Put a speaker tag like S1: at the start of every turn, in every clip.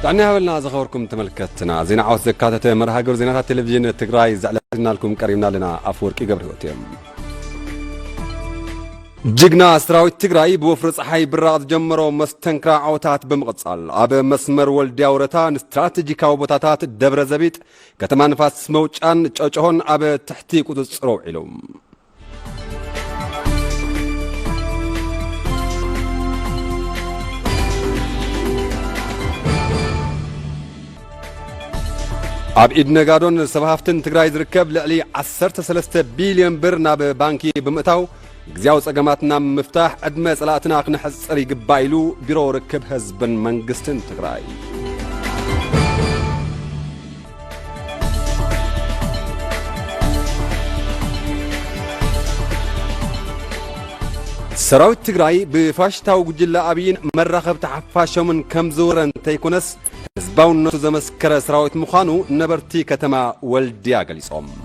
S1: ጥዕና ይሃበልና ዝኸበርኩም ተመልከትና ዜና ዓወት ዘካተተ መርሃ ግብሪ ዜናታት ቴሌቭዥን ትግራይ ዘዕለናልኩም ቀሪብና ኣለና ኣፈወርቂ ገብረህይወት እዮም ጅግና ሰራዊት ትግራይ ብወፍሪ ፀሓይ ብራቕ ዝጀመሮ መስተንክራ ዓወታት ብምቕፃል ኣብ መስመር ወልድያ ወረታ ንስትራቴጂካዊ ቦታታት ደብረ ዘቢጥ ከተማ ንፋስ መውጫን ጨጨሆን ኣብ ትሕቲ ቁፅፅር ውዒሉ ኣብ ኢድ ነጋዶን ሰብ ሃፍትን ትግራይ ዝርከብ ልዕሊ 13 ቢልዮን ብር ናብ ባንኪ ብምእታው ግዜያዊ ጸገማትና ምፍታሕ ዕድመ ጸላእትና ክነሕጽር ይግባእ ኢሉ ቢሮ ርክብ ህዝብን መንግስትን ትግራይ ሰራዊት ትግራይ ብፋሽታዊ ጉጅለ ኣብይን መራኸብቲ ሓፋሾምን ከም ዝውረ እንተይኮነስ ህዝባውነቱ ዘመስከረ ሰራዊት ምዃኑ ነበርቲ ከተማ ወልድያ ገሊፆም።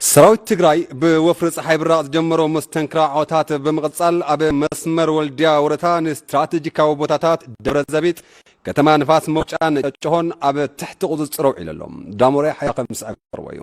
S1: ሰራዊት ትግራይ ብወፍሪ ፀሓይ ብራቕ ዝጀመሮ መስተንክር ዓወታት ብምቕፃል ኣብ መስመር ወልድያ ወረታ ንስትራቴጂካዊ ቦታታት ደብረ ዘቢጥ፣ ከተማ ንፋስ መውጫን ጨጨሆን ኣብ ትሕቲ ቁፅፅር ኣውዒሉ ኣሎ። ዳሞራይ ሓይላ ከም ዝስዕብ ከቕርቦ እዩ።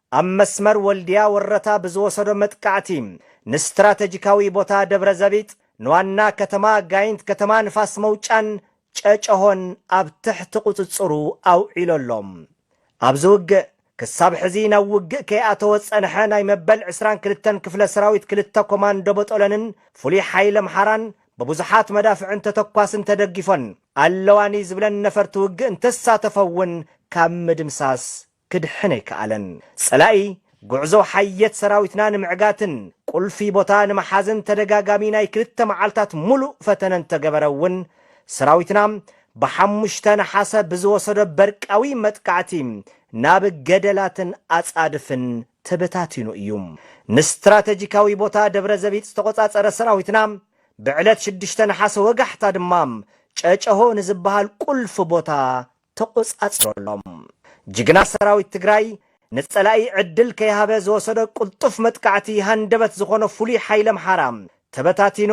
S2: ኣብ መስመር ወልድያ ወረታ ብዝወሰዶ መጥቃዕቲ ንስትራተጂካዊ ቦታ ደብረዘቢጥ፣ ንዋና ከተማ ጋይንት ከተማ ንፋስ መውጫን ጨጨሆን ኣብ ትሕቲ ቁፅፅሩ ኣውዒሉ ኣሎ። ኣብዚ ውግእ ክሳብ ሕዚ ናብ ውግእ ከይኣተወ ዝፀንሐ ናይ መበል ዕስራን ክልተን ክፍለ ሰራዊት ክልተ ኮማንዶ በጦለንን ፍሉይ ሓይሊ ኣምሓራን ብብዙሓት መዳፍዕን ተተኳስን ተደጊፎን ኣለዋኒ ዝብለን ነፈርቲ ውግእ እንተሳተፈ እውን ካብ ምድምሳስ ክድሕን ኣይከኣለን። ጸላኢ ጉዕዞ ሓየት ሰራዊትና ንምዕጋትን ቁልፊ ቦታ ንምሓዝን ተደጋጋሚ ናይ ክልተ መዓልታት ሙሉእ ፈተነ እንተገበረ እውን ሰራዊትና ብሓሙሽተ ነሓሰ ብዝወሰዶ በርቃዊ መጥቃዕቲ ናብ ገደላትን ኣጻድፍን ተበታቲኑ እዩ። ንስትራተጂካዊ ቦታ ደብረዘቢጥ ዝተቖጻጸረ ሰራዊትና ብዕለት ሽዱሽተ ነሓሰ ወጋሕታ ድማ ጨጨሆ ንዝበሃል ቁልፊ ቦታ ተቖጻጺሮሎም። ጅግና ሰራዊት ትግራይ ንጸላኢ ዕድል ከይሃበ ዝወሰዶ ቅልጡፍ መጥቃዕቲ ሃንደበት ዝኾኖ ፍሉይ ሓይሊ ኣምሓራ ተበታቲኑ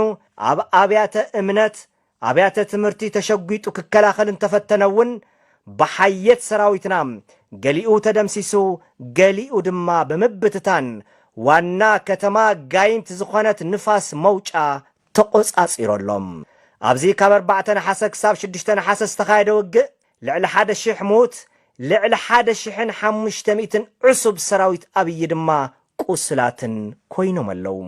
S2: ኣብ ኣብያተ እምነት፣ ኣብያተ ትምህርቲ ተሸጒጡ ክከላኸል እንተፈተነ እውን ብሓየት ሰራዊትና ገሊኡ ተደምሲሱ ገሊኡ ድማ ብምብትታን ዋና ከተማ ጋይንት ዝኾነት ንፋስ መውጫ ተቖጻጺሮሎም። ኣብዚ ካብ ኣርባዕተ ነሓሰ ክሳብ ሽዱሽተ ነሓሰ ዝተኻየደ ውግእ፣ ልዕሊ ሓደ ሽሕ ምዉት፣ ልዕሊ ሓደ ሽሕን ሓሙሽተ ሚእትን ዕሱብ ሰራዊት ኣብዪ ድማ ቁሱላትን ኮይኖም ኣለዉ።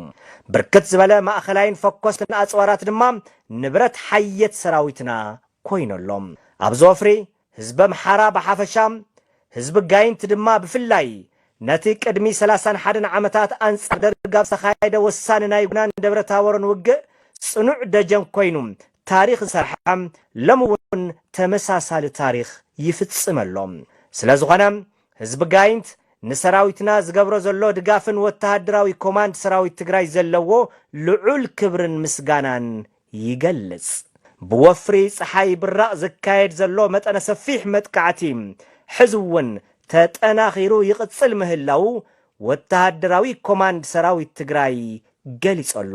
S2: ብርክት ዝበለ ማእኸላይን ፈኮስትን ኣጽዋራት ድማ ንብረት ሓየት ሰራዊትና ኮይኑ ኣሎ። ኣብዚ ወፍሪ፣ ህዝቢ ኣምሓራ ብሓፈሻ፣ ህዝቢ ጋይንት ድማ ብፍላይ፣ ነቲ ቅድሚ ሰላሳን ሓደን ዓመታት ኣንጻር ደርግ ኣብ ዝተኻየደ ወሳኒ ናይ ጉናን ደብረታቦርን ውግእ ጽኑዕ ደጀን ኮይኑ ታሪኽ ዝሰርሐ፣ ሎሚ እውን ተመሳሳሊ ታሪኽ ይፍጽም ኣሎ። ስለዝኾነ፣ ህዝቢ ጋይንት ንሰራዊትና ዝገብሮ ዘሎ ድጋፍን ወተሃደራዊ ኮማንድ ሰራዊት ትግራይ ዘለዎ ልዑል ክብርን ምስጋናን ይገልጽ። ብወፍሪ ጸሓይ ብራቕ ዝካየድ ዘሎ መጠነ ሰፊሕ መጥቃዕቲ ሕዚ'ውን ተጠናኺሩ ይቕጽል ምህላዉ ወተሃደራዊ ኮማንድ ሰራዊት ትግራይ ገሊጾ'ሎ።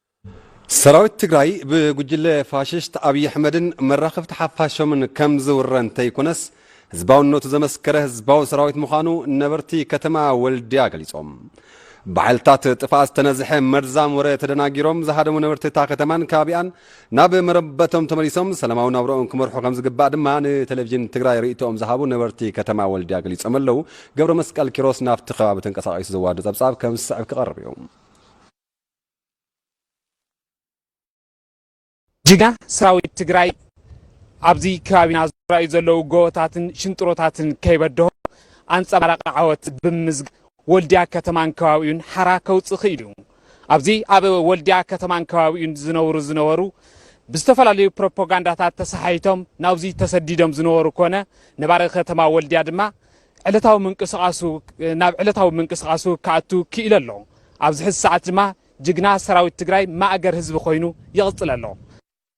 S1: ሰራዊት ትግራይ ብጉጅለ ፋሽስት ኣብይ ኣሕመድን መራኸብቲ ሓፋሾምን ከም ዝውረ እንተይኮነስ ህዝባውነቱ ዘመስከረ ህዝባዊ ሰራዊት ምዃኑ ነበርቲ ከተማ ወልድያ ገሊፆም። ብሓይልታት ጥፍኣት ዝተነዝሐ መርዛም ወረ ተደናጊሮም ዝሃደሙ ነበርቲ እታ ከተማን ከባቢኣን ናብ መረበቶም ተመሊሶም ሰላማዊ ናብረኦም ክመርሑ ከም ዝግባእ ድማ ንቴሌቪዥን ትግራይ ርእይቶኦም ዝሃቡ ነበርቲ ከተማ ወልድያ ገሊፆም ኣለው። ገብረመስቀል ኪሮስ ናብቲ ከባቢ ተንቀሳቒሱ ዘዋዶ ፀብፃብ ከም ዝስዕብ ክቐርብ እዩ።
S3: ጅግና ሰራዊት ትግራይ ኣብዚ ከባቢና ዝረኣዩ ዘለዉ ጎቦታትን ሽንጥሮታትን ከይበድሆ ኣንፀባራቂ ዓወት ብምዝግ ወልዲያ ከተማን ከባቢኡን ሓራ ከውፅእ ክኢሉ እዩ። ኣብዚ ኣብ ወልዲያ ከተማን ከባቢኡን ዝነብሩ ዝነበሩ ብዝተፈላለዩ ፕሮፓጋንዳታት ተሰሓይቶም ናብዚ ተሰዲዶም ዝነበሩ ኮነ ነባሪ ከተማ ወልዲያ ድማ ዕለታዊ ምንቅስቓሱ ናብ ዕለታዊ ምንቅስቓሱ ክኣቱ ክኢሉ ኣሎ። ኣብዚ ሕዚ ሰዓት ድማ ጅግና ሰራዊት ትግራይ ማእገር ህዝቢ ኮይኑ ይቕፅል ኣሎ።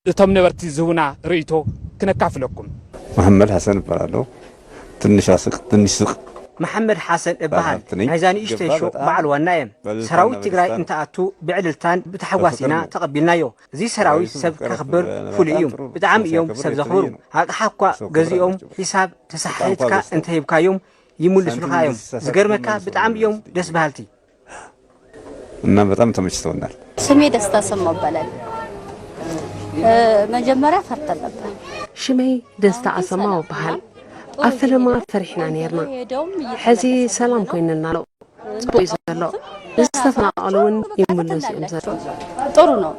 S3: እቶም ነበርቲ ዝህቡና ርእይቶ ክነካፍለኩም። መሐመድ
S4: ሐሰን እባላለሁ ትንሽ ኣስቅ ትንሽ ስቅ። መሐመድ ሐሰን
S2: እባሃል ናይዛ ንእሽተይ ሾው በዓል ዋና እየ ሰራዊት ትግራይ እንትኣቱ ብዕልልታን ብታሕጓስ ኢና ተቀቢልናዮ እዚ ሰራዊት ሰብ ከኽብር ፍሉይ እዩ። ብጣዕሚ እዮም ሰብ ዘኽብሩ። ኣቕሓ እኳ ገዚኦም ሒሳብ ተሰሓሒትካ እንተሂብካዮም ይምልሱልኻ እዮም። ዝገርመካ ብጣዕሚ እዮም ደስ በሃልቲ።
S4: እና በጣም ተመችቶናል። ስሜ ደስታ
S5: ሰማው ይባላል። መጀመሪያ ፈርተን ነበር። ሽመይ
S6: ደስታ ኣሰማው እበሃል። ኣብ ፈለማ ፈሪሕና ኔርና፣ ሕዚ ሰላም ኮይንና ኣሎ። ፅቡቅ እዩ ዘሎ ንዝተፈናቀሉ እውን ይምለሱ እዮም ዘለዉ ጥሩ
S5: ነው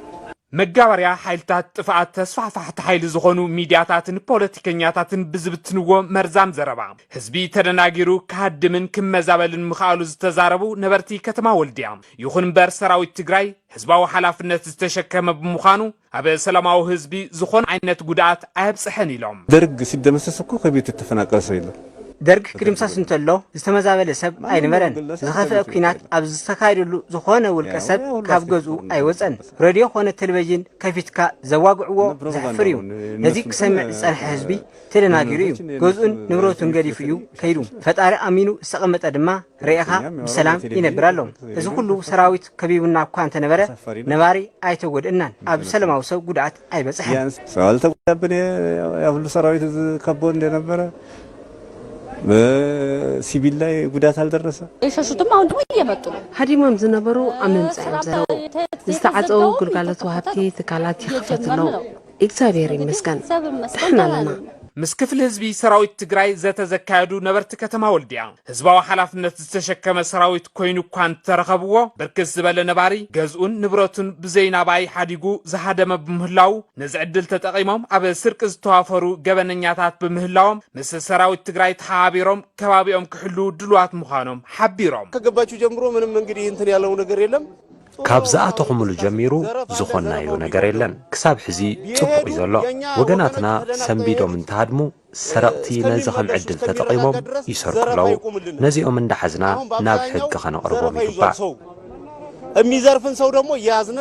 S5: መጋበርያ
S3: ሓይልታት ጥፍኣት ተስፋሕፋሕቲ ሓይሊ ዝኾኑ ሚድያታትን ፖለቲከኛታትን ብዝብትንዎ መርዛም ዘረባ ህዝቢ ተደናጊሩ ክሃድምን ክመዛበልን ምኽኣሉ ዝተዛረቡ ነበርቲ ከተማ ወልድያ ይኹን እምበር ሰራዊት ትግራይ ህዝባዊ ሓላፍነት ዝተሸከመ ብምዃኑ ኣብ ሰላማዊ ህዝቢ ዝኾነ ዓይነት ጉድኣት ኣየብፀሐን ኢሎም። ደርግ ሲደመሰስ
S4: እኮ ከቤቱ እተፈናቀለ ሰብ የለን። ደርግ ክድምሰስ
S2: እንተሎ ዝተመዛበለ ሰብ ኣይነበረን። ዝኸፍኤ ኩናት ኣብ ዝተካየደሉ ዝኾነ ውልቀ ሰብ ካብ ገዝኡ ኣይወፀን። ረድዮ ኮነ ተልቨዥን ከፊትካ ዘዋግዕዎ ዘሕፍር እዩ። ነዚ ክሰምዕ ዝፀንሐ ህዝቢ ተደናጊሩ እዩ። ገዝኡን ንብረቱን ገዲፉ እዩ ከይዱ። ፈጣሪ ኣሚኑ ዝተቐመጠ ድማ ርኤኻ ብሰላም ይነብር ኣሎ። እዚ ኹሉ ሰራዊት ከቢቡና እኳ እንተነበረ ነባሪ ኣይተጎድእናን፣ ኣብ ሰለማዊ ሰብ ጉድኣት ኣይበፅሐን። ሰብ ኣልተጎዳብን እየ፣
S4: ያ ኹሉ ሰራዊት እዚ ከቦ እንደነበረ በሲቪል ላይ ጉዳት ኣልደረሰ። የሸሹትም አሁን ደግሞ
S5: እየመጡ ነው። ሃዲሞም ዝነበሩ
S6: ኣብ ምምፃእ እዮም ዘለዉ። ዝተዓፀዉ ግልጋሎት ወሃብቲ ትካላት ይኽፈቱ ኣለዉ። ኢግዛብሄር ይመስገን ዳሕና ኣለና። ምስ ክፍሊ ህዝቢ
S3: ሰራዊት ትግራይ ዘተ ዘካየዱ ነበርቲ ከተማ ወልድያ፣ ህዝባዊ ሓላፍነት ዝተሸከመ ሰራዊት ኮይኑ እኳ እንተረኸብዎ ብርክት ዝበለ ነባሪ ገዝኡን ንብረቱን ብዘይ ናብኣይ ሓዲጉ ዝሃደመ ብምህላዉ ነዚ ዕድል ተጠቒሞም ኣብ ስርቂ ዝተዋፈሩ ገበነኛታት ብምህላዎም ምስ ሰራዊት ትግራይ ተሓባቢሮም ከባቢኦም ክሕልዉ ድሉዋት ምዃኖም ሓቢሮም። ከገባችሁ ጀምሮ ምንም
S7: እንግዲህ እንትን ያለው ነገር የለም። ካብ ዝኣተኹምሉ
S8: ጀሚሩ ዝኾንናዮ ነገር የለን ክሳብ ሕዚ ጽቡቕ እዩ ዘሎ ወገናትና ሰንቢዶም እንተሃድሙ ሰረቕቲ ነዚ ከም ዕድል ተጠቒሞም ይሰርቁ ኣለዉ ነዚኦም እንዳሓዝና ናብ ሕጊ
S7: ከነቕርቦም
S8: ይግባእ።
S7: እሚዘርፍን
S8: ሰው ደግሞ
S7: እየያዝነ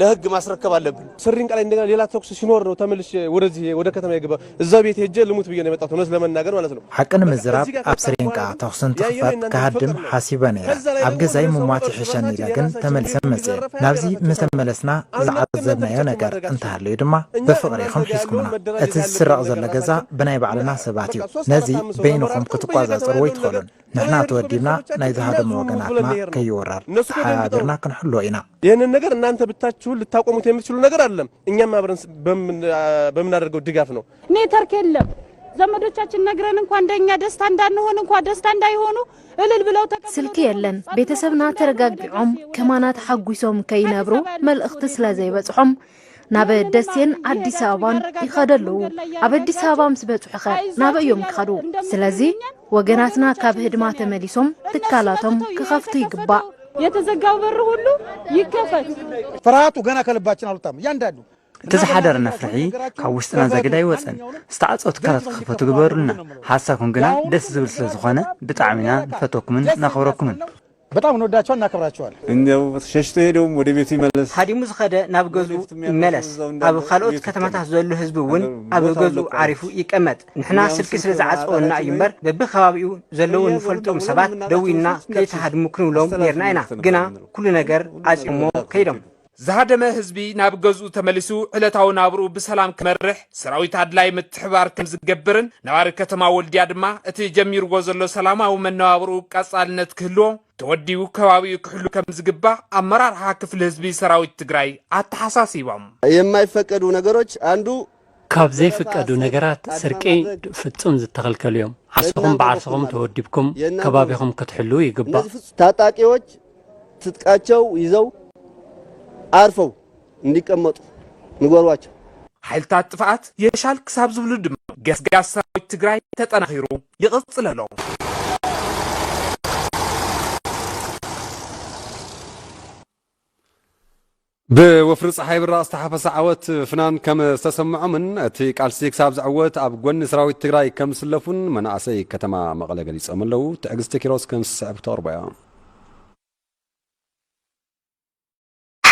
S7: ለህግ ማስረከብ ኣለብን። ስሪንቃ ላይ እንደገና ሌላ
S9: ተኩስ ሲኖር ነው ተመልሼ ወደዚህ ወደ ከተማ የገባው። እዛ ቤት ሄጀ ልሙት ብዬ ነው የመጣሁት እውነት ለመናገር ማለት ነው። ሓቂ ንምዝራብ ኣብ
S10: ስሪንቃ ተኹሲ እንትኽፈት ክሃድም ሓሲበ ነይረ። ኣብ ገዛይ ምሟት ይሕሸኒ ኢለ ግን ተመሊሰ መፅየ። ናብዚ ምስ ተመለስና ዝዓዘብናዮ ነገር እንተሃልዩ ድማ ብፍቕሪ ኢኹም ሒዝኩምና። እቲ ዝስረቕ ዘሎ ገዛ ብናይ ባዕልና ሰባት እዩ። ነዚ በይንኹም ክትቋፃፀርዎ ኣይትኽእሉን። ንሕና ተወዲብና ናይ ዝሃደሙ ወገናትና ከይውረር ተሓባቢርና ክንሕልዎ ኢና። ይህንን ነገር እናንተ
S9: ብታችሁን ልታቆሙት የምትችሉ ነገር ኣደለም። እኛም አብረን በምናደርገው ድጋፍ ነው። ኔትወርክ የለም።
S11: ዘመዶቻችን ነግረን እንኳ እንደኛ ደስታ እንዳንሆን እንኳ ደስታ እንዳይሆኑ እልል ብለው ስልኪ የለን።
S12: ቤተሰብና ተረጋጊዖም ከማና ተሓጒሶም ከይነብሩ መልእኽቲ ስለ ዘይበጽሖም ናብ ደሴን ኣዲስ ኣበባን ይኸዱ ኣለዉ ኣብ ኣዲስ ኣበባ ምስ በጽሑ ኸ ናበይ እዮም ክኸዱ ስለዚ ወገናትና ካብ ህድማ ተመሊሶም ትካላቶም ክኸፍቱ ይግባእ። የተዘጋው በር
S11: ሁሉ ይከፈት። ፍርሃቱ
S13: ገና ከልባችን አልወጣም። እያንዳንዱ እቲ ዝሓደረ
S14: ነፍርሒ ካብ ውሽጥና ዘግድ ኣይወፀን ዝተዓፀው ትካላት ክኽፈቱ ግበሩልና ሓሳብኩም ግና ደስ ዝብል ስለ ዝኾነ ብጣዕሚና ንፈተኩምን ነኽብረኩምን በጣም እንወዳቸዋል
S13: እናከብራቸዋል። እንዲያው ሸሽቶ
S4: ሄደውም ወደ ቤቱ ይመለስ። ሃዲሙ ዝኸደ ናብ
S15: ገዝኡ ይመለስ። ኣብ ኻልኦት ከተማታት ዘሎ ህዝቢ እውን ኣብ ገዝኡ ዓሪፉ ይቀመጥ። ንሕና ስልኪ ስለ ዝዓፀወና እዩ እምበር በቢከባቢኡ ዘለዉ እንፈልጦም ሰባት ደዊልና ከይትሃድሙ ክንብሎም ነይርና ኢና። ግና ኩሉ ነገር ዓፅዮሞ ከይዶም። ዝሃደመ ህዝቢ
S3: ናብ ገዝኡ ተመሊሱ ዕለታዊ ናብርኡ ብሰላም ክመርሕ ሰራዊት ኣድላይ ምትሕብባር ከም ዝገብርን ነባሪ ከተማ ወልድያ ድማ እቲ ጀሚርዎ ዘሎ ሰላማዊ መነባብርኡ ቀጻልነት ክህልዎ ተወዲቡ ከባቢኡ ክሕሉ ከም ዝግባእ ኣመራርሓ ክፍሊ ህዝቢ ሰራዊት ትግራይ ኣተሓሳሲቦም። የማይፈቀዱ
S7: ነገሮች አንዱ ካብ ዘይፍቀዱ
S16: ነገራት ስርቂ ፍጹም ዝተኸልከሉ እዮም። ዓርስኹም ብዓርስኹም ተወዲብኩም ከባቢኹም ክትሕልዉ ይግባእ። ታጣቂዎች
S7: ትጥቃቸው ይዘው ዓርፈው እንዲቀመጡ ንገሯቸው። ሓይልታት
S3: ጥፍኣት የሻል ክሳብ ዝብሉ ድማ ገስጋስ ሰራዊት ትግራይ ተጠናኺሩ ይቕፅል ኣሎ።
S1: ብወፍሪ ፀሓይ ብራቕ ዝተሓፈሰ ዓወት ፍናን ከም ዝተሰምዖምን እቲ ቃልሲ ክሳብ ዝዕወት ኣብ ጎኒ ሰራዊት ትግራይ ከም ዝስለፉን መናእሰይ ከተማ መቐለ ገሊፆም ኣለው። ትዕግስቲ ኪሮስ ከም ዝስዕብ ክተቕርቦ እያ።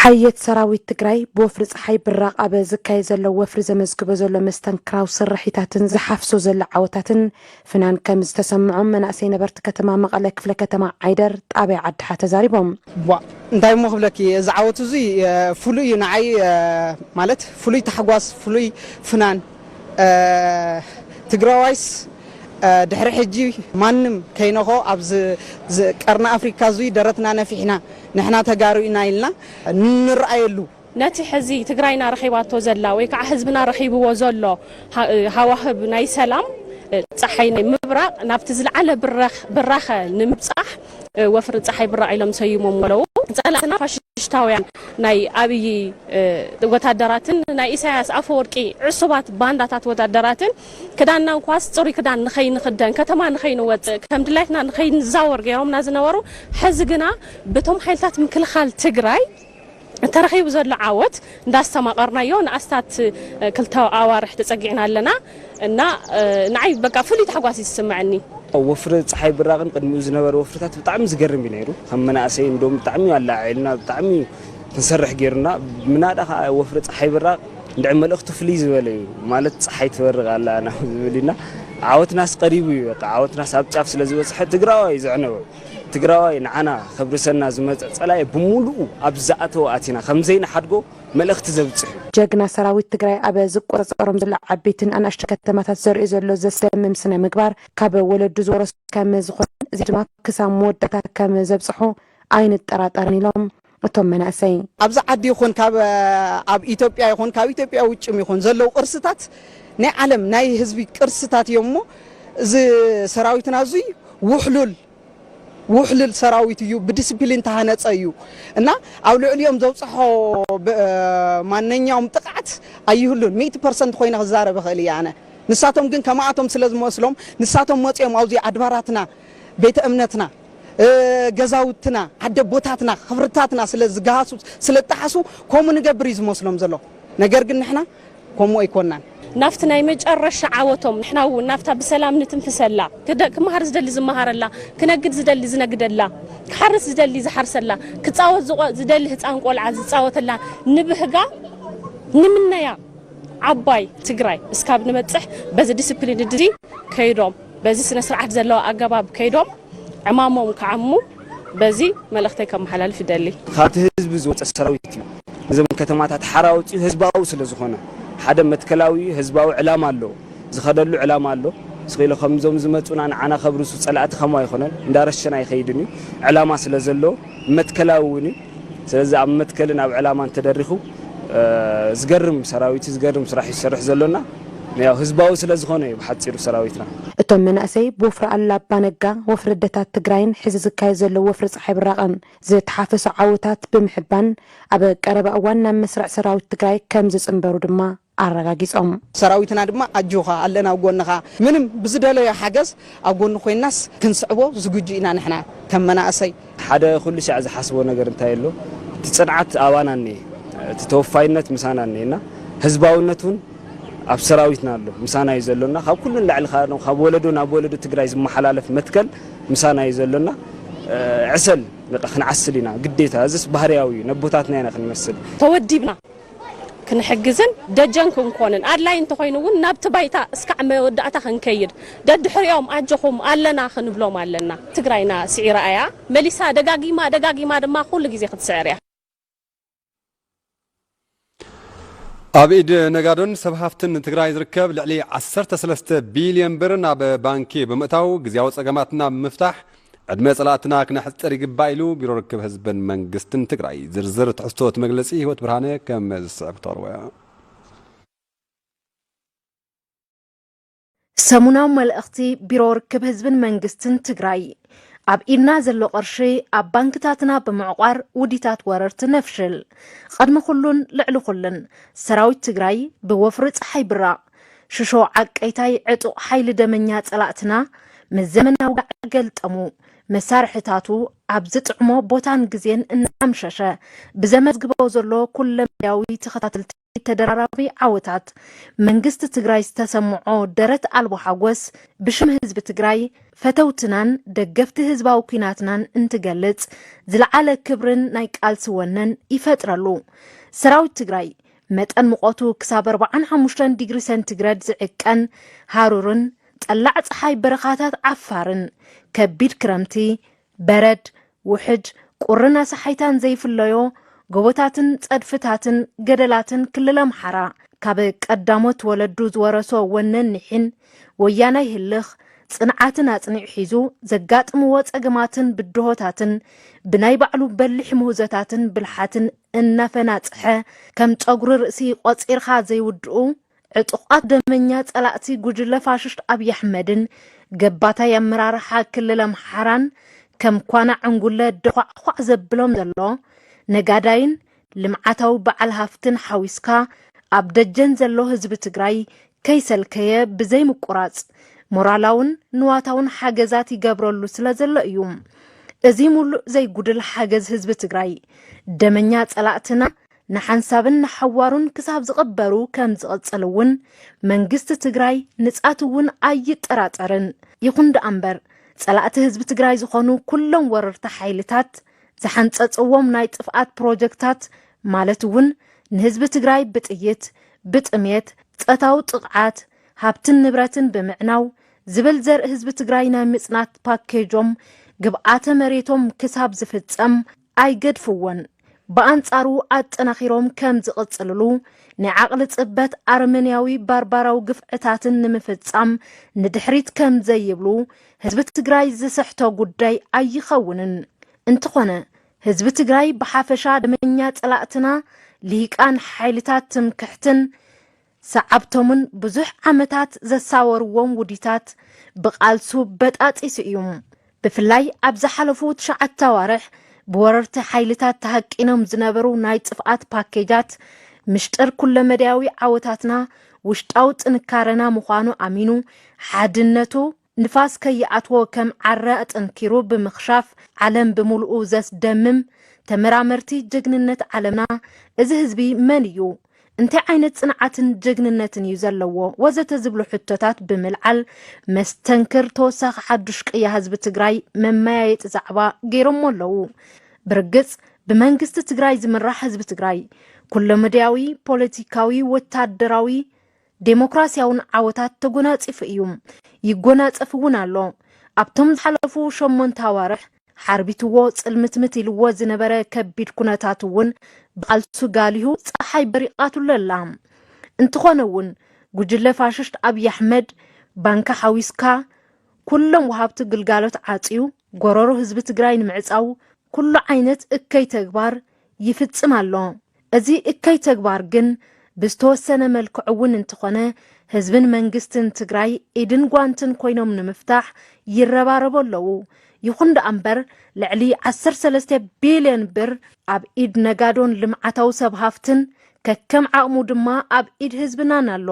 S6: ሓየት ሰራዊት ትግራይ ብወፍሪ ፀሓይ ብራቕ ኣብ ዝካየድ ዘሎ ወፍሪ ዘመዝግቦ ዘሎ መስተንክራዊ ስርሒታትን ዝሓፍሶ ዘሎ ዓወታትን ፍናን ከም ዝተሰምዖም መናእሰይ ነበርቲ ከተማ መቐለ ክፍለ ከተማ ዓይደር ጣብያ ዓድሓ ተዛሪቦም። ዋእ እንታይ እሞ
S17: ክብለኪ እዚ ዓወት እዙይ ፍሉይ እዩ ንዓይ ማለት ፍሉይ ታሕጓስ ፍሉይ ፍናን ትግራዋይስ ድሕሪ ሕጂ ማንም ከይነኾ ኣብዚ ቀርኒ ኣፍሪካ እዙይ ደረትና ነፊሕና ንሕና ተጋሩ ኢና ኢልና ንረኣየሉ ነቲ ሕዚ
S11: ትግራይና ረኺባቶ ዘላ ወይ ከዓ ህዝብና ረኺብዎ ዘሎ ሃዋህብ ናይ ሰላም ፀሓይ ናይ ምብራቕ ናብቲ ዝለዓለ ብራኸ ንምብፃሕ ወፍሪ ፀሓይ ብራቕ ኢሎም ሰይሞምዎ ኣለዉ። ፀላእትና ፋሽሽታውያን ናይ ኣብዪ ወታደራትን ናይ ኢሳያስ ኣፈወርቂ ዕሱባት ባንዳታት ወታደራትን ክዳንና እንኳስ ፅሩይ ክዳን ንኸይንኽደን ከተማ ንኸይንወፅእ ከም ድላይትና ንኸይንዛወር ገይሮምና ዝነበሩ ሕዚ ግና በቶም ሓይልታት ምክልኻል ትግራይ ተረኺቡ ዘሎ ዓወት እንዳስተማቐርናዮ ንኣስታት ክልተ ኣዋርሕ ተጸጊዕና ኣለና እና ንዓይ በቃ ፍሉይ ታሕጓስ እዩ ዝስመዐኒ። ወፍሪ ጸሓይ
S15: ብራቕን ቅድሚኡ ዝነበረ ወፍርታት ብጣዕሚ ዝገርም እዩ ነይሩ። ከም መናእሰይ እንድዮም ብጣዕሚ እዩ ኣለዓዒሉና፣ ብጣዕሚ እዩ ክንሰርሕ ገይሩና። ምናዳ ከኣ ወፍሪ ጸሓይ ብራቕ እንድዒ መልእኽቱ ፍልይ ዝበለ እዩ፣ ማለት ጸሓይ ትበርቕ ኣላ ናብ ዝብል እዩና። ዓወትናስ ቀሪቡ እዩ በቃ፣ ዓወትናስ ኣብ ጫፍ ስለዝበጽሐ ትግራዋይ እዩ ዘዕነወ። ትግራዋይ ንዓና ከብርሰና ዝመፀ ፀላኢ ብሙሉኡ ኣብ ዝኣተወ ኣቲና ከምዘይንሓድጎ መልእኽቲ ዘብፅሕ እዩ። ጀግና ሰራዊት
S6: ትግራይ ኣብ ዝቆፃፀሮም ዘሎ ዓበይትን ኣናእሽቱ ከተማታት ዘርእዮ ዘሎ ዘስደምም ስነ ምግባር ካብ ወለዱ ዝወረሶ ከምዝኾነን እዚ ድማ ክሳብ መወዳእታ ከምዘብፅሖ ኣይንጠራጠርን ኢሎም። እቶም መናእሰይ። ኣብዚ ዓዲ ይኹን
S17: ካብ ኣብ ኢትዮጵያ ይኹን ካብ ኢትዮጵያ ውጭም ይኹን ዘለዉ ቅርስታት ናይ ዓለም ናይ ህዝቢ ቅርስታት እዮም እሞ እዚ ሰራዊትና እዙይ ውሕሉል ውሕሉል ሰራዊት እዩ ብዲስፕሊን ተሃነፀ እዩ እና ኣብ ልዕሊኦም ዘብፅሖ ማነኛውም ጥቕዓት ኣይህሉን ሚእቲ ፐርሰንት ኮይነ ክዛረብ እኽእል እየ ኣነ ንሳቶም ግን ከማኣቶም ስለ ዝመስሎም ንሳቶም መፂኦም ኣብዙይ ኣድባራትና ቤተ እምነትና ገዛውትና ዓደቦታትና ክብርታትና ስለ ዝገሃሱ ስለ ዝጠሓሱ ከምኡ ንገብር እዩ ዝመስሎም ዘሎ ነገር ግን ንሕና ከምኡ ኣይኮናን። ናብቲ ናይ
S11: መጨረሻ ዓወቶም ንሕና እውን ናብታ ብሰላም ንትንፍሰላ ክመሃር ዝደሊ ዝመሃረላ ክነግድ ዝደሊ ዝነግደላ ክሓርስ ዝደሊ ዝሓርሰላ ክፃወት ዝደሊ ህፃን ቆልዓ ዝፃወተላ ንብህጋ ንምነያ ዓባይ ትግራይ እስካብ ንበፅሕ በዚ ዲስፕሊን ድዚ ከይዶም በዚ ስነ ስርዓት ዘለዎ ኣገባብ ከይዶም ዕማሞም ክዓሙ በዚ መልእኽተይ ከመሓላልፍ ይደሊ። ካብቲ ህዝቢ ዝወፀ
S15: ሰራዊት እዩ ንዘን ከተማታት ሓራ ኣውፂኡ ህዝባዊ ስለዝኾነ ሓደ መትከላዊ ህዝባዊ ዕላማ ኣለዎ ዝኸደሉ ዕላማ ኣሎ ስቂሉ ከምዞም ዝመፁና ንዓና ከብርሱ ፀላእቲ ከምኡ ኣይኾነን እንዳረሸነ ኣይኸይድን እዩ ዕላማ ስለዘለዎ መትከላዊ እውን እዩ ስለዚ ኣብ መትከልን ኣብ ዕላማን ተደሪኹ ዝገርም ሰራዊት እዩ ዝገርም ስራሕ እዩ ዝሰርሕ ዘሎ እና ያው ህዝባዊ ስለ ዝኾነ እዩ ብሓጺሩ ሰራዊትና። እቶም መናእሰይ
S6: ብወፍሪ ኣሉላ ኣባ ነጋ፣ ወፍሪ ኣደታት ትግራይን ሕዚ ዝካየድ ዘሎ ወፍሪ ፀሓይ ብራቐን ዝተሓፈሶ ዓወታት ብምሕባን ኣብ ቀረባ እዋን ናብ መስርዕ ሰራዊት ትግራይ ከምዝፅምበሩ ድማ ኣረጋጊጾም። ሰራዊትና ድማ
S17: ኣጆኻ ኣለና ኣብ ጎንኻ ምንም ብዝደለዮ ሓገዝ ኣብ ጎኑ ኮይንናስ ክንስዕቦ ዝግጁ ኢና ንሕና ከም መናእሰይ። ሓደ ኩሉ ሻዕ
S15: ዝሓስቦ ነገር እንታይ ኣሎ እቲ ጽንዓት ኣባና እኒኤ እቲ ተወፋይነት ምሳና እኒኤ እና ህዝባዊነት እውን ኣብ ሰራዊትና ኣሎ ምሳና እዩ ዘሎ እና ካብ ኩሉ ንላዕሊ ከኣ ዶ ካብ ወለዶ ናብ ወለዶ ትግራይ ዝመሓላለፍ መትከል ምሳና እዩ ዘሎ እና ዕሰል በቃ ክንዓስል ኢና ግዴታ እዝስ ባህርያዊ እዩ ነቦታትና ኢና ክንመስል ተወዲብና
S11: ክንሕግዝን ደጀን ክንኮንን፣ ኣድላይ እንተኾይኑ እውን ናብቲ ባይታ እስካዕ መወዳእታ ክንከይድ ደድሕሪኦም ኣጆኹም ኣለና ክንብሎም ኣለና። ትግራይና ስዒራ እያ መሊሳ ደጋጊማ ደጋጊማ ድማ ኩሉ ግዜ ክትስዕር እያ።
S1: ኣብ ኢድ ነጋዶን ሰብ ሃፍትን ትግራይ ዝርከብ ልዕሊ ዓሰርተ ሰለስተ ቢልዮን ብር ናብ ባንኪ ብምእታው ግዝያዊ ፀገማትና ብምፍታሕ ዕድመ ፀላእትና ክነሕፅር ይግባእ ኢሉ ቢሮ ርክብ ህዝብን መንግስትን ትግራይ። ዝርዝር ትሕዝቶ እቲ መግለፂ ህይወት ብርሃነ ከም ዝስዕብ ክተቕርቦ እያ።
S12: ሰሙናዊ መልእኽቲ ቢሮ ርክብ ህዝብን መንግስትን ትግራይ። ኣብ ኢድና ዘሎ ቅርሺ ኣብ ባንክታትና ብምዕቋር ውዲታት ወረርቲ ነፍሽል። ቐድሚ ኩሉን ልዕሊ ኩሉን ሰራዊት ትግራይ ብወፍሪ ፀሓይ ብራቕ ሽሾ ዓቀይታይ ዕጡቕ ሓይሊ ደመኛ ጸላእትና ምስ ዘመናዊ ጋዕ ገልጠሙ መሳርሕታቱ ኣብ ዝጥዕሞ ቦታን ግዜን እናኣምሸሸ ብዘመዝግቦ ዘሎ ኩለመዳያዊ ተኸታተልቲ ተደራራቢ ዓወታት መንግስቲ ትግራይ ዝተሰምዖ ደረት ኣልቦ ሓጎስ ብሽም ህዝቢ ትግራይ ፈተውትናን ደገፍቲ ህዝባዊ ኩናትናን እንትገልጽ ዝለዓለ ክብርን ናይ ቃልሲ ወነን ይፈጥረሉ ሰራዊት ትግራይ መጠን ሙቐቱ ክሳብ ኣርብዓን ሓሙሽተን ዲግሪ ሰንቲግረድ ዝዕቀን ሃሩርን ጠላዕ ፀሓይ በረኻታት ዓፋርን ከቢድ ክረምቲ፣ በረድ፣ ውሕጅ፣ ቁርን ኣሳሓይታን ዘይፍለዮ ጎቦታትን ፀድፍታትን ገደላትን ክልል ኣምሓራ ካብ ቀዳሞት ወለዱ ዝወረሶ ወነን ኒሒን ወያናይ ህልኽ ፅንዓትን ኣፅኒዑ ሒዙ ዘጋጥምዎ ፀገማትን ብድሆታትን ብናይ ባዕሉ በሊሕ ምህዞታትን ብልሓትን እናፈናጽሐ ከም ጸጉሪ ርእሲ ቆጺርኻ ዘይውድኡ ዕጡቓት ደመኛ ጸላእቲ ጉጅለ ፋሽስት ኣብይ ኣሕመድን ገባታይ ኣመራርሓ ክልል ኣምሓራን ከም ኳና ዕንጉለ ደዃዕዃዕ ዘብሎም ዘሎ ነጋዳይን ልምዓታዊ በዓል ሃፍትን ሓዊስካ ኣብ ደጀን ዘሎ ህዝቢ ትግራይ ከይሰልከየ ብዘይ ምቁራጽ ሞራላውን ንዋታውን ሓገዛት ይገብረሉ ስለ ዘሎ እዩ። እዚ ሙሉእ ዘይጉድል ሓገዝ ህዝቢ ትግራይ ደመኛ ጸላእትና ንሓንሳብን ንሓዋሩን ክሳብ ዝቕበሩ ከም ዝቕጽል እውን መንግስቲ ትግራይ ንጻት እውን ኣይጠራጠርን። ይኹን ደኣ እምበር ጸላእቲ ህዝቢ ትግራይ ዝኾኑ ኩሎም ወረርቲ ሓይልታት ዝሓንፀፅዎም ናይ ጥፍኣት ፕሮጀክታት ማለት እውን ንህዝቢ ትግራይ ብጥይት፣ ብጥምየት፣ ፀታዊ ጥቕዓት፣ ሃብትን ንብረትን ብምዕናው ዝብል ዘርኢ ህዝቢ ትግራይ ናይ ምፅናት ፓኬጆም ግብኣተ መሬቶም ክሳብ ዝፍፀም ኣይገድፍዎን። ብኣንፃሩ ኣጠናኺሮም ከም ዝቕፅልሉ ናይ ዓቕሊ ፅበት ኣረመኔያዊ ባርባራዊ ግፍዕታትን ንምፍፃም ንድሕሪት ከም ዘይብሉ ህዝቢ ትግራይ ዝስሕቶ ጉዳይ ኣይኸውንን። እንትኾነ ህዝቢ ትግራይ ብሓፈሻ ደመኛ ፀላእትና ሊሂቃን ሓይልታት ትምክሕትን ሰዓብቶምን ብዙሕ ዓመታት ዘሳወርዎም ውዲታት ብቓልሱ በጣጢሱ እዩ። ብፍላይ ኣብ ዝሓለፉ ትሽዓተ ኣዋርሕ ብወረርቲ ሓይልታት ተሃቂኖም ዝነበሩ ናይ ጥፍኣት ፓኬጃት ምሽጥር ኩለመዳያዊ ዓወታትና ውሽጣዊ ጥንካረና ምዃኑ ኣሚኑ ሓድነቱ ንፋስ ከይኣትዎ ከም ዓረ ኣጠንኪሩ ብምኽሻፍ ዓለም ብምሉኡ ዘስደምም ተመራመርቲ ጀግንነት ዓለምና እዚ ህዝቢ መን እዩ? እንታይ ዓይነት ጽንዓትን ጀግንነትን እዩ ዘለዎ? ወዘተ ዝብሉ ሕቶታት ብምልዓል መስተንክር ተወሳኺ ሓዱሽ ቅያ ህዝቢ ትግራይ መመያየጢ ዛዕባ ገይሮሞ ኣለዉ። ብርግጽ ብመንግስቲ ትግራይ ዝምራሕ ህዝቢ ትግራይ ኩለመዳያዊ ፖለቲካዊ፣ ወታደራዊ፣ ዴሞክራሲያውን ዓወታት ተጎናጺፉ እዩ፣ ይጎናጸፍ እውን ኣሎ። ኣብቶም ዝሓለፉ ሸሞንተ ኣዋርሕ ሓርቢትዎ ጽልምትምት ኢልዎ ዝነበረ ከቢድ ኩነታት እውን ብቓልሱ ጋሊሁ ጸሓይ በሪቓትሉ ኣላ። እንትኾነ እውን ጉጅለ ፋሽስት ኣብይ ኣሕመድ ባንኪ ሓዊስካ ኩሎም ወሃብቲ ግልጋሎት ዓጽዩ ጎረሮ ህዝቢ ትግራይ ንምዕጻው ኩሉ ዓይነት እከይ ተግባር ይፍፅም ኣሎ። እዚ እከይ ተግባር ግን ብዝተወሰነ መልክዑ እውን እንትኾነ ህዝብን መንግስትን ትግራይ ኢድን ጓንትን ኮይኖም ንምፍታሕ ይረባረቡ ኣለዉ። ይኹን ደኣ እምበር ልዕሊ ዓሰርተ ሰለስተ ቢልዮን ብር ኣብ ኢድ ነጋዶን ልምዓታዊ ሰብ ሃፍትን ከከም ዓቕሙ ድማ ኣብ ኢድ ህዝብናን ኣሎ።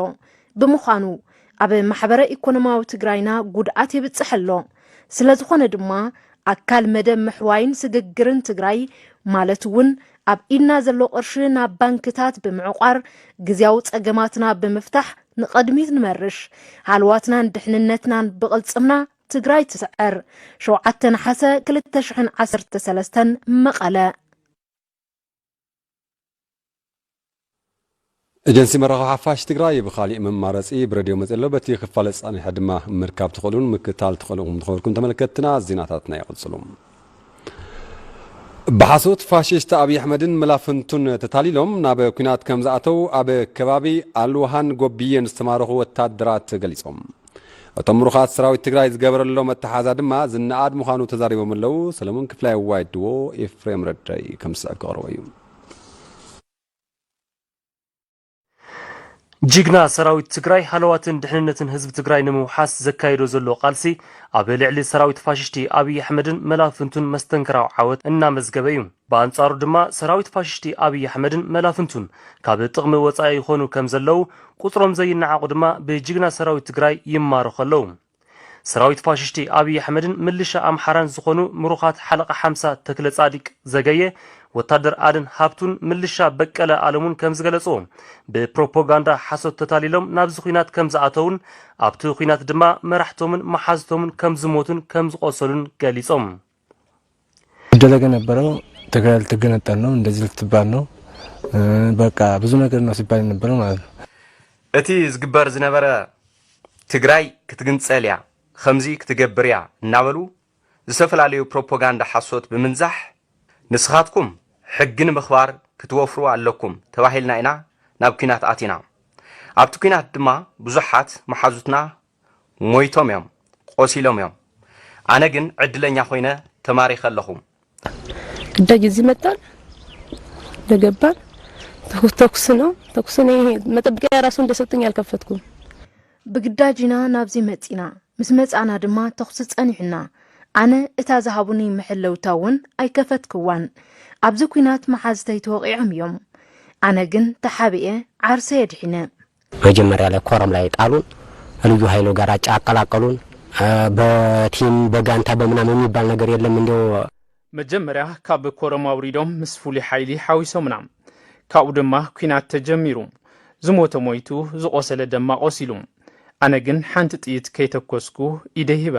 S12: ብምዃኑ ኣብ ማሕበረ ኢኮኖማዊ ትግራይና ጉድኣት የብፅሕ ኣሎ። ስለዝኾነ ድማ ኣካል መደብ ምሕዋይን ስግግርን ትግራይ ማለት እውን ኣብ ኢድና ዘሎ ቅርሺ ናብ ባንክታት ብምዕቋር ግዝያዊ ፀገማትና ብምፍታሕ ንቐድሚት ንመርሽ። ሃልዋትናን ድሕንነትናን ብቕልፅምና! ትግራይ ትስዕር! ሸውዓተ ነሓሰ ክልተ ሽሕን ዓሰርተ ሰለስተን መቐለ።
S1: ኤጀንሲ መራኸቢ ሓፋሽ ትግራይ ብኻሊእ መማረፂ ብረድዮ መፂኡ ኣሎ። በቲ ክፋለ ፀኒሐ ድማ ምርካብ ትኽእሉን ምክታል ትኽእሉ ኢኹም ንኽበልኩም ተመልከትትና ዜናታትና ይቕፅሉ። ብሓሶት ፋሽስት ኣብይ ኣሕመድን መላፍንቱን ተታሊሎም ናብ ኩናት ከምዝኣተው ኣብ ከባቢ ኣልውሃን ጎብዬን ዝተማረኹ ወታደራት ገሊፆም። እቶም ምሩኻት ሰራዊት ትግራይ ዝገበረሎም ኣተሓዛ ድማ ዝነኣድ ምዃኑ ተዛሪቦም ኣለው። ሰለሙን ክፍላይ እዋይ ድዎ ኤፍሬም ረዳይ ከም ዝስዕብ ከቕርቦ እዩ።
S8: ጅግና ሰራዊት ትግራይ ሃለዋትን ድሕንነትን ህዝቢ ትግራይ ንምውሓስ ዘካይዶ ዘሎ ቃልሲ ኣብ ልዕሊ ሰራዊት ፋሽሽቲ ኣብይ ኣሕመድን መላፍንቱን መስተንክራዊ ዓወት እናመዝገበ እዩ። ብኣንጻሩ ድማ ሰራዊት ፋሽሽቲ ኣብይ ኣሕመድን መላፍንቱን ካብ ጥቕሚ ወጻኢ ይኾኑ ከም ዘለዉ፣ ቁጽሮም ዘይነዓቑ ድማ ብጅግና ሰራዊት ትግራይ ይማረኹ ኣለዉ። ሰራዊት ፋሽሽቲ ኣብይ ኣሕመድን ምልሻ ኣምሓራን ዝኾኑ ምሩኻት ሓለቓ ሓምሳ ተክለጻዲቅ ዘገየ፣ ወታደር ኣድን ሃብቱን ምልሻ በቀለ ኣለሙን ከም ዝገለጽዎ፣ ብፕሮፖጋንዳ ሓሶት ተታሊሎም ናብዚ ኹናት ከም ዝኣተዉን ኣብቲ ኹናት ድማ መራሕቶምን መሓዙቶምን ከም ዝሞቱን ከም ዝቖሰሉን ገሊጾም።
S18: ይደረገ የነበረው ትግራይ ልትገነጠል ነው፣ እንደዚህ ልትባል ነው፣ በቃ ብዙ ነገር ነው ሲባል የነበረው ማለት ነው። እቲ
S8: ዝግበር ዝነበረ ትግራይ ክትግንፀል እያ፣ ከምዚ ክትገብር እያ እናበሉ ዝተፈላለዩ ፕሮፓጋንዳ ሓሶት ብምንዛሕ ንስኻትኩም ሕጊ ንምኽባር ክትወፍሩ ኣለኩም ተባሂልና ኢና ናብ ኲናት ኣቲና። ኣብቲ ኲናት ድማ ብዙሓት መሓዙትና ሞይቶም እዮም ቆሲሎም እዮም ኣነ ግን ዕድለኛ ኮይነ ተማሪኸ ኣለኹ።
S19: ግዳጅ እዚህ መጣን እንደገባን ተኩስ ነው ተኩስ ነው። ይሄ መጠብቂያ ራሱ እንደሰጡኝ አልከፈትኩም። ብግዳጅ
S12: ኢና ናብዚ መጺና ምስ መጻና ድማ ተኹሲ ጸኒሑና ኣነ እታ ዝሃቡኒ መሐለውታ እውን ኣይከፈትክዋን ኣብዚ ኩናት መሓዝተይ ተወቂዖም እዮም ኣነ ግን ተሓቢኤ ዓርሰ የድሒነ መጀመሪያ ላይ
S20: ኮረም ላይ ጣሉን ልዩ ሀይሎ ጋር አጫ አቀላቀሉን በቲም በጋንታ በምናም የሚባል ነገር የለም እንዲው መጀመሪያ
S3: ካብ ኮረም አውሪዶም ምስ ፍሉይ ሓይሊ ሓዊሶምና ካብኡ ድማ ኩናት ተጀሚሩ ዝሞተ ሞይቱ ዝቆሰለ ደማ ቆሲሉ ኣነ ግን ሓንቲ ጥይት ከይተኮስኩ ኢደይ ሂበ።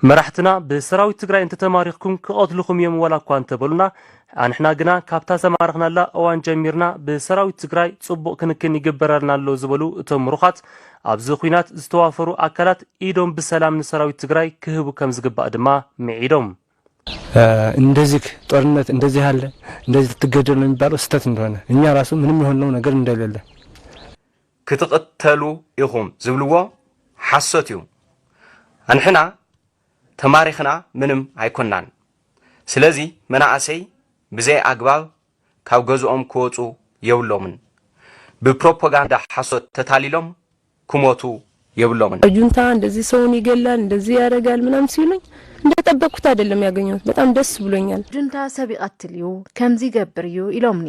S3: መራሕትና ብሰራዊት ትግራይ እንተተማሪኽኩም ክቐትሉኹም እዮም ዋላ እኳ እንተበሉና ኣንሕና ግና ካብታ ዝተማረኽናላ እዋን ጀሚርና ብሰራዊት ትግራይ ፅቡቕ ክንክን ይግበረልና ኣሎ ዝበሉ እቶም ምሩኻት ኣብዚ ኹናት ዝተዋፈሩ ኣካላት ኢዶም ብሰላም ንሰራዊት ትግራይ ክህቡ ከምዝግባእ ድማ ምዒዶም።
S18: እንደዚክ ጦርነት እንደዚህ አለ እንደዚህ ትገደሉ የሚባለው ስተት እንደሆነ እኛ ራሱ ምንም የሆንነው ነገር እንደሌለ ክትቕተሉ
S8: ኢኹም ዝብልዎ ሓሶት እዩ። ኣንሕና ተማሪኽና ምንም ኣይኮናን። ስለዚ መናእሰይ ብዘይ ኣግባብ ካብ ገዝኦም ክወፁ የብሎምን። ብፕሮፖጋንዳ ሓሶት ተታሊሎም ክሞቱ የብሎምን። ጁንታ እንደዚህ
S19: ሰውን ይገላል እንደዚህ ያደርጋል ምናምን ሲሉኝ እንደጠበቅኩት አይደለም ያገኘሁት በጣም ደስ ብሎኛል። ጁንታ ሰብ ይቀትል
S12: እዩ ከምዚ ይገብር እዩ ኢሎምኒ።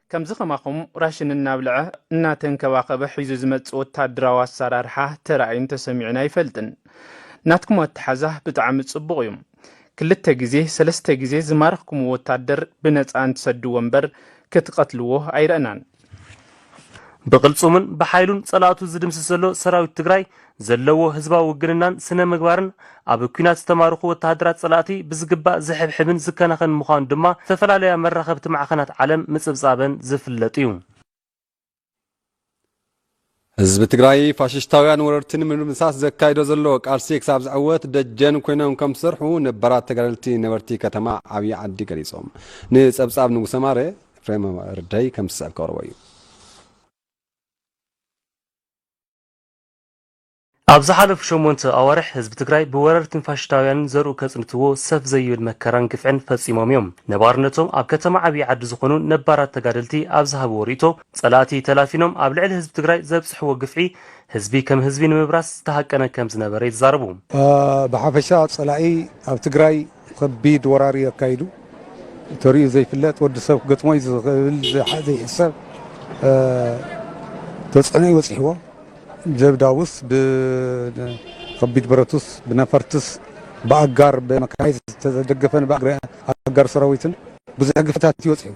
S20: ከምዚ ከማኹም
S3: ራሽን እናብልዐ እናተንከባኸበ ሒዙ ዝመጽእ ወታደራዊ ኣሰራርሓ ተራእዩን ተሰሚዑን ኣይፈልጥን። ናትኩም ኣተሓዛ ብጣዕሚ ጽቡቕ እዩ። ክልተ ግዜ ሰለስተ ግዜ ዝማረኽኩምዎ ወታደር ብነጻ እንትሰድዎ እምበር ክትቐትልዎ ኣይረእናን።
S8: ብቕልጽሙን ብሓይሉን ጸላእቱ ዝድምስስ ዘሎ ሰራዊት ትግራይ ዘለዎ ህዝባዊ ውግንናን ስነ-ምግባርን ኣብ ኲናት ዝተማረኹ ወተሃደራት ጸላእቲ ብዝግባእ ዝሕብሕብን ዝከናኸንን ምዃኑ ድማ ዝተፈላለያ መራኸብቲ ማዕኸናት ዓለም ምጽብጻበን ዝፍለጥ'ዩ።
S1: ህዝቢ ትግራይ ፋሽሽታውያን ወረርቲ ንምድምሳስ ዘካይዶ ዘሎ ቃልሲ ክሳብ ዝዕወት ደጀን ኮይኖም ከም ዝሰርሑ ነባራት ተጋደልቲ ነበርቲ ከተማ ዓብዪ ዓዲ ገሊፆም። ንፀብፃብ ንጉሰ ማረ ኤፍሬም ረዳይ ከም ዝስዕብ ከቕርቦ እዩ።
S8: ኣብ ዝሓለፉ ሸሞንተ ኣዋርሕ ህዝቢ ትግራይ ብወረርትን ፋሽሽታውያንን ዘርኡ ከጽንትዎ ሰፍ ዘይብል መከራን ግፍዕን ፈጺሞም እዮም። ነባርነቶም ኣብ ከተማ ዓብዪ ዓዲ ዝኾኑ ነባራት ተጋደልቲ ኣብ ዝሃብዎ ርኢቶ፣ ጸላእቲ ተላፊኖም ኣብ ልዕሊ ህዝቢ ትግራይ ዘብጽሕዎ ግፍዒ ህዝቢ ከም ህዝቢ ንምብራስ ዝተሃቀነ ከምዝነበረ ይዛረቡ። ብሓፈሻ
S13: ጸላኢ ኣብ ትግራይ ከቢድ ወራር እዩ ኣካይዱ ተሪኡ ዘይፍለጥ ወዲ ሰብ ክገጥሞ እዩ ዝኽእል ዘይሕሰብ ተፅዕኖ እዩ በፂሕዎ ጀብዳውስ ብከቢድ ብረቱስ ብነፈርትስ ብኣጋር ብመካናይዝ ዝተደገፈን ብኣጋር ሰራዊትን ብዙሕ ግፍታት እዩ በፂሑ።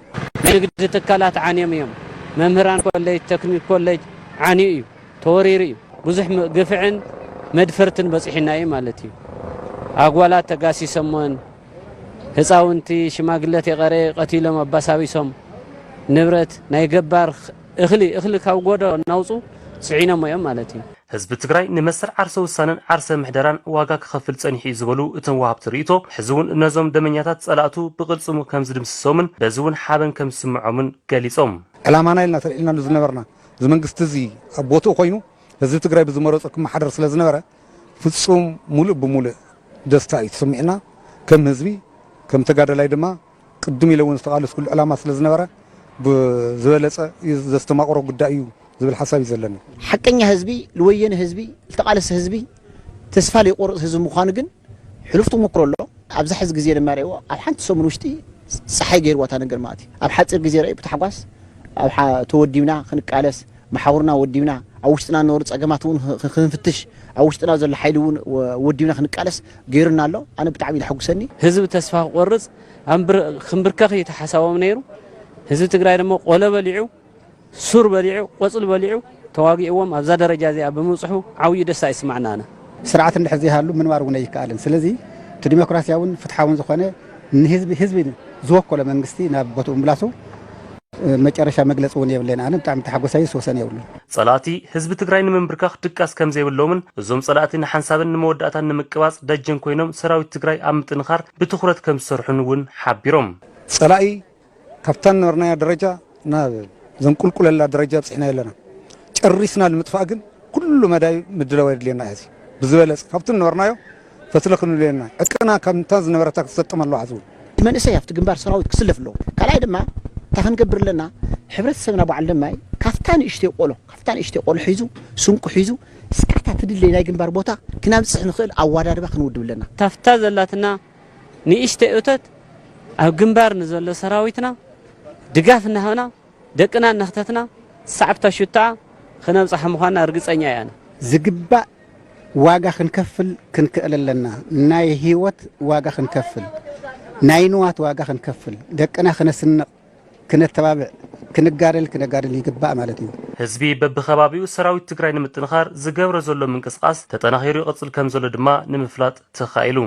S13: ናይ ንግዲ
S21: ትካላት ዓንዮም እዮም። መምህራን ኮሌጅ፣ ተክኒክ ኮሌጅ ዓንዩ እዩ። ተወሪሩ እዩ ብዙሕ ግፍዕን መድፈርትን በፂሑና እዩ ማለት እዩ ኣጓላት ተጋሲሰሞን ህፃውንቲ ሽማግለቴ ቀረ ቀቲሎም ኣባሳቢሶም ንብረት ናይ ገባር እኽሊ እኽሊ ካብ ጎዶ እናውፁ ፅዒኖሞ እዮም ማለት እዩ። ህዝቢ ትግራይ
S8: ንመሰል ዓርሰ ውሳነን ዓርሰ ምሕደራን ዋጋ ክኸፍል ፀኒሑ እዩ ዝበሉ እቶም ወሃብቲ ርኢቶ ሕዚ እውን ነዞም ደመኛታት ፀላእቱ ብቕልፅሙ ከምዝድምስሶምን በዚ እውን ሓበን ከምዝስምዖምን ገሊፆም። ዕላማና ኢልና
S13: ተልዒልናሉ ዝነበርና እዚ መንግስቲ እዚ ኣብ ቦትኡ ኮይኑ ህዝቢ ትግራይ ብዝመረፆ ክመሓደር ስለ ዝነበረ ፍፁም ሙሉእ ብሙሉእ ደስታ እዩ ተሰሚዑና ከም ህዝቢ ከም ተጋዳላይ ድማ ቅድም ኢለ እውን ዝተቓለስኩሉ ዕላማ ስለ ዝነበረ ብዝበለፀ ዘስተማቕሮ ጉዳይ እዩ ዝብል ሓሳብ እዩ ዘለኒ። ሓቀኛ ህዝቢ
S22: ልወየነ ህዝቢ ልተቓለሰ ህዝቢ ተስፋ ዘይቆርጽ ህዝቢ ምዃኑ ግን ሕሉፍ ተሞክሮ ኣሎ። ኣብዛ ሕዚ ግዜ ድማ ርእይዎ ኣብ ሓንቲ ሰሙን ውሽጢ ጸሓይ ገይርዋ እታ ነገር ማለት እዩ። ኣብ ሓጺር ግዜ ረኣዩ ብታሕጓስ ኣብ ተወዲብና ክንቃለስ መሓውርና ወዲብና ኣብ ውሽጥና ንነሩ ጸገማት እውን ክንፍትሽ ኣብ ውሽጥና ዘሎ ሓይሊ እውን ወዲብና ክንቃለስ ገይሩና ኣሎ። ኣነ ብጣዕሚ ዘሐጉሰኒ ህዝቢ ተስፋ ክቆርጽ ክምብርከኽ እዩ እቲ ሓሳቦም ነይሩ። ህዝቢ ትግራይ ድማ ቆሎ በሊዑ ሱር በሊዑ ቆጽሊ በሊዑ ተዋጊእዎም ኣብዛ ደረጃ እዚኣ ብምብጽሑ ዓውዩ ደስታ ይስማዕና ኣነ። ስርዓት እንድሕር ዘይሃሉ
S13: ምንባር እውን ኣይከኣልን። ስለዚ እቲ ዲሞክራሲያውን ፍትሓውን ዝኾነ ንህዝቢ ህዝቢ ዝወከሎ መንግስቲ ናብ ቦትኡ ምምላሱ መጨረሻ መግለጺ እውን የብለይን። ኣነ ብጣዕሚ ተሓጎሳይስ ወሰን የብሉን። ፀላእቲ ህዝቢ
S8: ትግራይ ንምንብርካኽ ድቃስ ከምዘይብሎምን እዞም ፀላእቲ ንሓንሳብን ንመወዳእታን ንምቅባፅ ደጀን ኮይኖም ሰራዊት ትግራይ ኣብ ምጥንኻር ብትኹረት ከምዝሰርሑን እውን ሓቢሮም። ፀላኢ
S13: ካብታ ዝነበርናያ ደረጃ ናብ ዘንቁልቁለላ ደረጃ ኣብፂሕናዮ ኣለና። ጨሪስና ንምጥፋእ ግን ኩሉ መዳይ ምድላው የድልየና እዩ። ብዝበለፀ ካብቲ ዝነበርናዮ ፈትለ ክንብለሉ ኣለና። ዕጥቅና ከምታ ዝነበረታ ክትሰጥም ኣለዋ ሕዚ እውን። መንእሰይ ኣብቲ ግንባር
S22: ሰራዊት ክስለፍ ኣለዎ። ካልኣይ ድማ እንታይ ክንገብር ኣለና ሕብረተሰብና በዓል ለማይ ካብታ ንእሽተይ ቆሎ ካብታ ንእሽተይ ቆሎ ሒዙ ስንቁ ሒዙ እስካብ እታ ትድለይ ናይ ግንባር ቦታ ክናብፅሕ ንኽእል ኣዋዳድባ ክንውድብ ኣለና። ታፍታ ዘላትና
S21: ንእሽተይ እቶት ኣብ ግንባር ንዘሎ ሰራዊትና ድጋፍ እናሃብና ደቅና እናኽተትና ሳዕብታ ሹታኣ ክነብጽሓ ምዃንና ርግጸኛ ኢያና። ዝግባእ
S22: ዋጋ ክንከፍል ክንክእል ኣለና። ናይ ህይወት ዋጋ ክንከፍል፣ ናይ ንዋት ዋጋ ክንከፍል፣ ደቅና ክነስንቕ፣ ክነተባብዕ፣ ክንጋደል ክነጋድል ይግባእ ማለት እዩ። ህዝቢ በቢከባቢኡ
S8: ሰራዊት ትግራይ ንምጥንኻር ዝገብሮ ዘሎ ምንቅስቓስ ተጠናኺሩ ይቕፅል ከምዘሎ ድማ ንምፍላጥ ተኻኢሉ።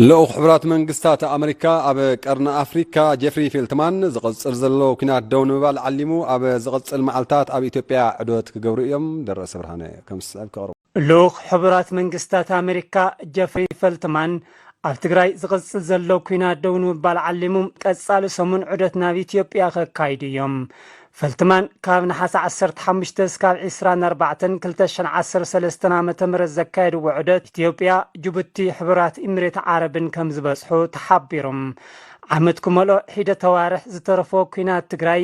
S1: ልኡኽ ሕቡራት መንግስታት ኣመሪካ ኣብ ቀርኒ ኣፍሪካ ጀፍሪ ፌልትማን ዝቕፅል ዘሎ ኲናት ደው ንምባል ዓሊሙ ኣብ ዝቕፅል መዓልታት ኣብ ኢትዮጵያ ዑደት ክገብሩ እዮም። ደረሰ ብርሃነ ከም ዝስዕብ ከቕርቦ። ልኡኽ ሕቡራት
S23: መንግስታት ኣመሪካ ጀፍሪ ፈልትማን ኣብ ትግራይ ዝቕፅል ዘሎ ኲናት ደው ንምባል ዓሊሙ ቀፃሊ ሰሙን ዑደት ናብ ኢትዮጵያ ከካይዱ እዮም። ፈልትማን ካብ ነሓሰ 15 እስካብ 24 2013 ዓ.ም ዘካየድዎ ዑደት ኢትዮጵያ፣ ጅቡቲ፣ ሕቡራት ኢሚሬት ዓረብን ከምዝበፅሑ ተሓቢሩ። ዓመት ክመልኦ ሒደት ኣዋርሕ ዝተረፎ ኲናት ትግራይ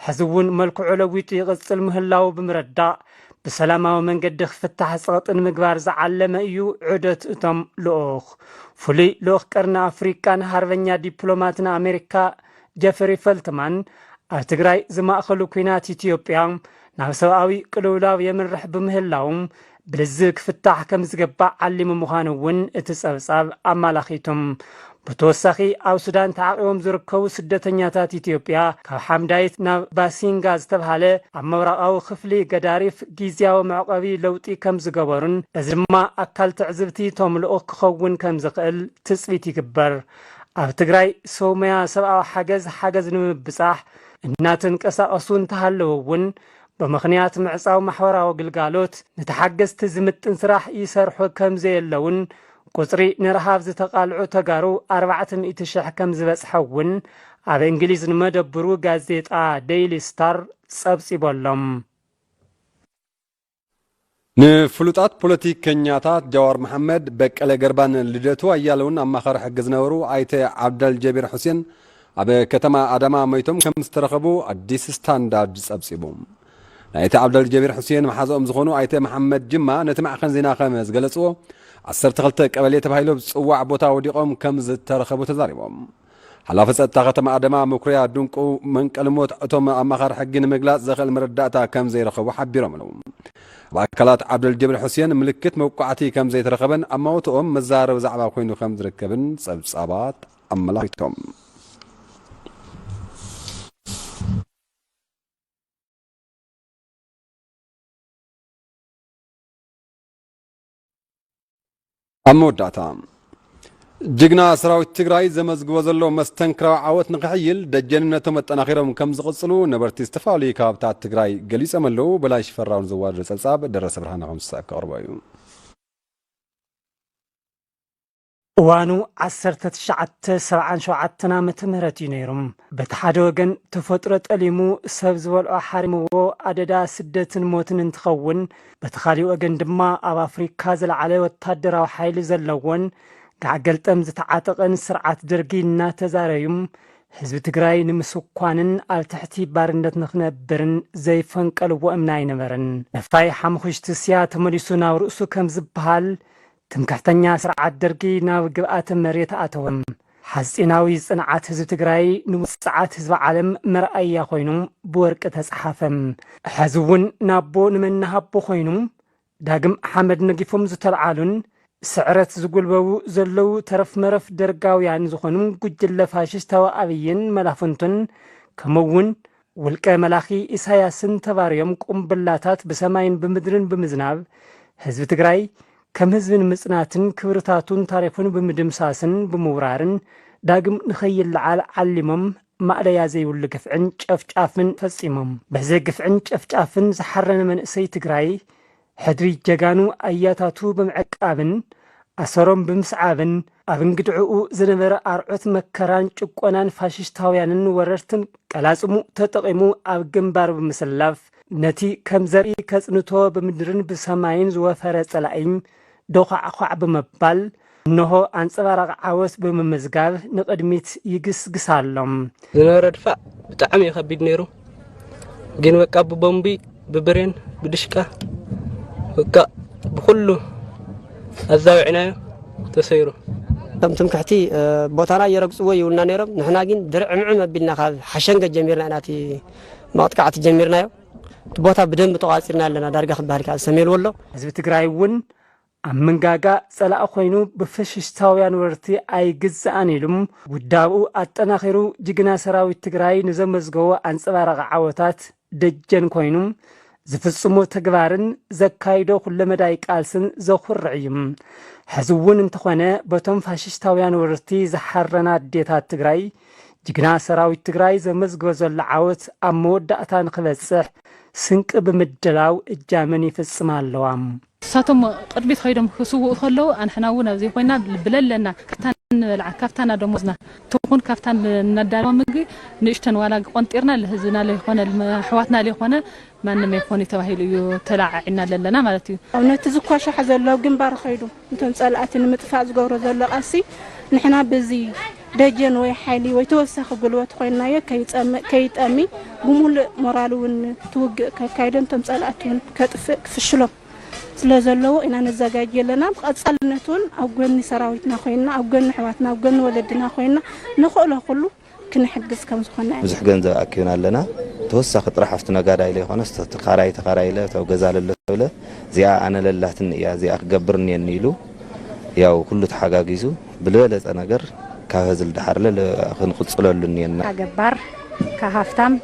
S23: ሕዚ እውን መልክዑ ለዊጡ ይቕፅል ምህላዉ ብምርዳእ ብሰላማዊ መንገዲ ክፍታሕ ጸቕጢ ንምግባር ዝዓለመ እዩ ዑደት እቶም ልኡኽ። ፍሉይ ልኡኽ ቀርኒ ኣፍሪቃን ሃርበኛ ዲፕሎማትን ኣሜሪካ ጀፍሪ ፈልትማን ኣብ ትግራይ ዝማእኸሉ ኩናት ኢትዮጵያ ናብ ሰብኣዊ ቅልውላው የምርሕ ብምህላው ብልዝብ ክፍታሕ ከም ዝገባእ ዓሊሙ ምዃኑ እውን እቲ ጸብጻብ ኣማላኺቱም ብተወሳኺ ኣብ ሱዳን ተዓቝቦም ዝርከቡ ስደተኛታት ኢትዮጵያ ካብ ሓምዳይት ናብ ባሲንጋ ዝተብሃለ ኣብ ምብራቓዊ ክፍሊ ገዳሪፍ ጊዚያዊ መዕቖቢ ለውጢ ከም ዝገበሩን እዚ ድማ ኣካል ትዕዝብቲ እቶም ልኡኽ ክኸውን ከም ዝኽእል ትጽቢት ይግበር። ኣብ ትግራይ ሰው መያ ሰብኣዊ ሓገዝ ሓገዝ ንምብጻሕ እናተንቀሳቐሱ እንተሃለዉ እውን ብምኽንያት ምዕጻው ማሕበራዊ ግልጋሎት ንተሓገዝቲ ዝምጥን ስራሕ ይሰርሑ ከም ዘየለዉን ቁፅሪ ንረሃብ ዝተቓልዑ ተጋሩ ኣርባዕተ ሚእቲ ሽሕ ከምዝበፅሐ እውን ኣብ እንግሊዝ ንመደብሩ ጋዜጣ ደይሊ ስታር ፀብፂቡ ኣሎ።
S1: ንፍሉጣት ፖለቲከኛታት ጃዋር መሓመድ፣ በቀለ ገርባን ልደቱ ኣያለውን ኣማኸሪ ሕጊ ዝነበሩ ኣይተ ዓብደልጀቢር ሑሴን ኣብ ከተማ ኣዳማ መይቶም ከምዝተረኸቡ ኣዲስ ስታንዳርድ ፀብፂቡ። ናይቲ ዓብደል ጀቢር ሑሴን መሓዝኦም ዝኾኑ ኣይተ መሓመድ ጅማ ነቲ ማዕኸን ዜና ከም ዝገለፅዎ ዓሰርተ ክልተ ቀበሌ ተባሂሉ ኣብ ዝፅዋዕ ቦታ ወዲቖም ከም ዝተረኸቡ ተዛሪቦም። ሓላፊ ፀጥታ ከተማ ኣደማ መኩሪያ ድንቁ መንቀልሞት እቶም ኣማኻሪ ሕጊ ንምግላፅ ዘኽእል መረዳእታ ከም ዘይረኸቡ ሓቢሮምሉ። ኣብ ኣካላት ዓብደል ጀቢር ሑሴን ምልክት መውቃዕቲ ከም ዘይተረኸበን ኣማውትኦም መዘራረቢ ዛዕባ ኮይኑ ከም ዝርከብን ፀብፃባት ኣመላኺቶም። ኣብ መወዳእታ ጅግና ሰራዊት ትግራይ ዘመዝግቦ ዘሎ መስተንክራዊ ዓወት ንክሕይል ደጀንነቶም ኣጠናኺሮም ከም ዝቕፅሉ ነበርቲ ዝተፈላለዩ ከባብታት ትግራይ ገሊፆም ኣለዉ። በላይ ሽፈራውን ዘዋደደ ጸብጻብ ደረሰ ብርሃነ ከምዝሰዕብ ከቕርቦ እዩ።
S23: እዋኑ ዓሰርተ ትሽዓተ ሰብዓን ሸውዓተን ዓመተ ምህረት እዩ ነይሩ። በቲ ሓደ ወገን ተፈጥሮ ጠሊሙ ሰብ ዝበልዖ ሓሪምዎ ኣደዳ ስደትን ሞትን እንትኸውን፣ በቲ ካሊእ ወገን ድማ ኣብ ኣፍሪካ ዝለዓለ ወታደራዊ ሓይሊ ዘለዎን ጋዕ ገልጠም ዝተዓጠቐን ስርዓት ደርጊ እናተዛረዩም ህዝቢ ትግራይ ንምስኳንን ኣብ ትሕቲ ባርነት ንክነብርን ዘይፈንቀልዎ እምኒ ኣይነበረን። ነፋይ ሓሙኽሽቲ ስያ ተመሊሱ ናብ ርእሱ ከምዝበሃል ትምክሕተኛ ስርዓት ደርጊ ናብ ግብኣተ መሬት ኣተወ። ሓጺናዊ ጽንዓት ህዝቢ ትግራይ ንውጽዓት ህዝቢ ዓለም መርኣያ ኮይኑ ብወርቂ ተጽሓፈ። ሕዚ እውን ናቦ ንመን ንሃቦ ኮይኑ ዳግም ሓመድ ነጊፎም ዝተልዓሉን ብስዕረት ዝጉልበቡ ዘለዉ ተረፍመረፍ ደርጋውያን ዝኾኑ ጉጅለ ፋሽስታዊ ኣብይን መላፍንቱን ከምኡ እውን ውልቀ መላኺ ኢሳያስን ተባርዮም ቁምብላታት ብሰማይን ብምድርን ብምዝናብ ህዝቢ ትግራይ ከም ህዝቢ ንምጽናትን ክብርታቱን ታሪኹን ብምድምሳስን ብምውራርን ዳግም ንኸይለዓል ዓሊሞም ማእለያ ዘይብሉ ግፍዕን ጨፍጫፍን ፈጺሞም። በዚ ግፍዕን ጨፍጫፍን ዝሓረነ መንእሰይ ትግራይ ሕድሪ ጀጋኑ ኣያታቱ ብምዕቃብን ኣሰሮም ብምስዓብን ኣብ እንግድዕኡ ዝነበረ ኣርዑት መከራን ጭቆናን ፋሽሽታውያንን ወረርትን ቀላጽሙ ተጠቒሙ ኣብ ግንባር ብምስላፍ ነቲ ከም ዘርኢ ከጽንቶ ብምድርን ብሰማይን ዝወፈረ ጸላኢ ዶዃዕዃዕ ብምባል እነሆ ኣንጸባራቒ ዓወት ብምምዝጋብ ንቕድሚት ይግስግስ ኣሎ። ዝነበረ
S2: ድፋዕ ብጣዕሚ እዩ ከቢድ ነይሩ ግን በቃ ብቦምቢ ብብሬን ብድሽቃ በቃ ብኩሉ ኣዛዊዕናዮ ተሰይሩ። እቶም
S20: ትምክሕቲ ቦታና ይረግጽዎ ይብሉና ነይሮም ንሕና ግን ድርዕምዕም ኣቢልና ካብ ሓሸንገ ጀሚርና ኢና እቲ መቕጥቃዕቲ ጀሚርናዮ። እቲ ቦታ ብደንቢ ተቋፂርናዮ ኣለና ዳርጋ ክበሃል ይከኣል ሰሜን ወሎ። ህዝቢ ትግራይ እውን
S23: ኣብ መንጋጋ ፀላኢ ኮይኑ ብፈሽሽታውያን ወረርቲ ኣይግዛእን ኢሉ ውዳብኡ ኣጠናኺሩ ጅግና ሰራዊት ትግራይ ንዘመዝገቦ ኣንፀባራቒ ዓወታት ደጀን ኮይኑ ዝፍፅሞ ተግባርን ዘካይዶ ኩለመዳይ ቃልስን ዘኹርዕ እዩ። ሕዚ እውን እንተኾነ በቶም ፋሽሽታውያን ወረርቲ ዝሓረና ኣዴታት ትግራይ ጅግና ሰራዊት ትግራይ ዘመዝግቦ ዘሎ ዓወት ኣብ መወዳእታ ንክበፅሕ ስንቂ ብምድላው እጃመን ይፍፅማ ኣለዋ። ንሳቶም
S5: ቅድሚት ከይዶም ክስውኡ ከለዉ ኣንሕና እውን ኣብዙይ ኮይና ብለለና ካብታ እንበልዓ ካብታ ና ደሞዝና ትኹን ካብታ እነዳልዋ ምግቢ ንእሽተን ዋላ ቆንጢርና ልህዝብና ለይኾነ ልኣሕዋትና ለይኾነ ማንም ኣይኮን እዩ ተባሂሉ እዩ ተለዓዒና ለለና ማለት እዩ። ኣብነቲ ዝኳሻሕ
S10: ዘሎ ግንባር ከይዱ እቶም ፀላእቲ ንምጥፋእ ዝገብሮ ዘሎ ቃልሲ ንሕና ብዚ ደጀን
S9: ወይ ሓይሊ ወይ ተወሳኺ ጉልበት ኮይንናዮ ከይፀምእ ከይጠሚ ብሙሉእ ሞራል እውን እቲ ውግእ ከካይዶን እቶም ፀላእቲ እውን ከጥፍእ ክፍሽሎም ስለ ዘለዎ ኢና ነዘጋጅ ኣለና ብቐፃልነት እውን ኣብ ጎኒ ሰራዊትና ኮይንና ኣብ ጎኒ ኣሕዋትና ኣብ ጎኒ ወለድና ኮይንና ንኽእሎ ኩሉ ክንሕግዝ ከም ዝኾነ። ብዙሕ ገንዘብ ኣኪብና
S10: ኣለና ተወሳኺ ጥራሕ ኣፍቲ ነጋዳይ ለይኾነስ ተኻራይ ተኻራይ ለ ተው ገዛ ለሎ ሰብ ለ እዚኣ ኣነ ለላትኒ እያ እዚኣ ክገብር እኒየኒ ኢሉ ያው ኩሉ ተሓጋጊዙ ብልበለፀ ነገር ካብ ህዝል ደሓር ለ ክንቕፅለሉ እኒየና። ካብ ገባር
S14: ካብ ሃፍታም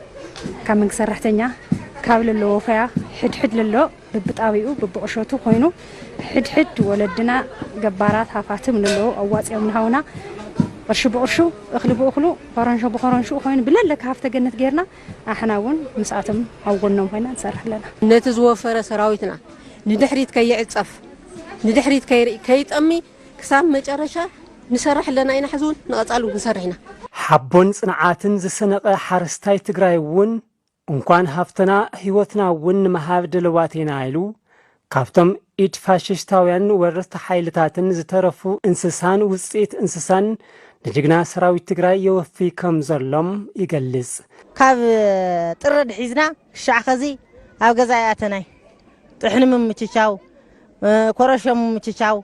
S14: ካብ መንግስቲ ሰራሕተኛ ካብ ለሎ ወፈያ ሕድሕድ ለሎ። ብብጣብይኡ ብብቑሸቱ ኮይኑ ሕድሕድ ወለድና ገባራት ሃፋትም ንለዉ ኣዋፂኦም ንሃውና ቕርሺ ብቕርሹ እኽሊ ብእኽሉ ኾረንሾ ብኾረንሽኡ ኮይኑ ብለለካ ሃፍተ ገነት ገይርና ኣሕና እውን ምስኣቶም ኣብ ጎኖም ኮይና ንሰርሕ ኣለና። ነቲ ዝወፈረ
S24: ሰራዊትና ንድሕሪት ከይዕፀፍ ንድሕሪት ከይርኢ ከይጠሚ ክሳብ መጨረሻ ንሰርሕ ኣለና ኢና ሕዚ እውን ንቐፃሊ እውን ክንሰርሕ ኢና። ሓቦን
S23: ፅንዓትን ዝሰነቐ ሓረስታይ ትግራይ እውን እንኳን ሃፍትና ህይወትና እውን ንምሃብ ድልዋት ኢና ኢሉ ካብቶም ኢድ ፋሽሽታውያንን ወረርቲ ሓይልታትን ዝተረፉ እንስሳን ውፅኢት እንስሳን ንጅግና ሰራዊት ትግራይ የወፍይ ከም ዘሎ ይገልፅ። ካብ
S25: ጥሪ ኣትሒዝና ክሻዕ ኸዚ ኣብ ገዛ ኣይኣተናይ። ጥሕኒ ምምችቻው፣ ኮረሾ ምምችቻው፣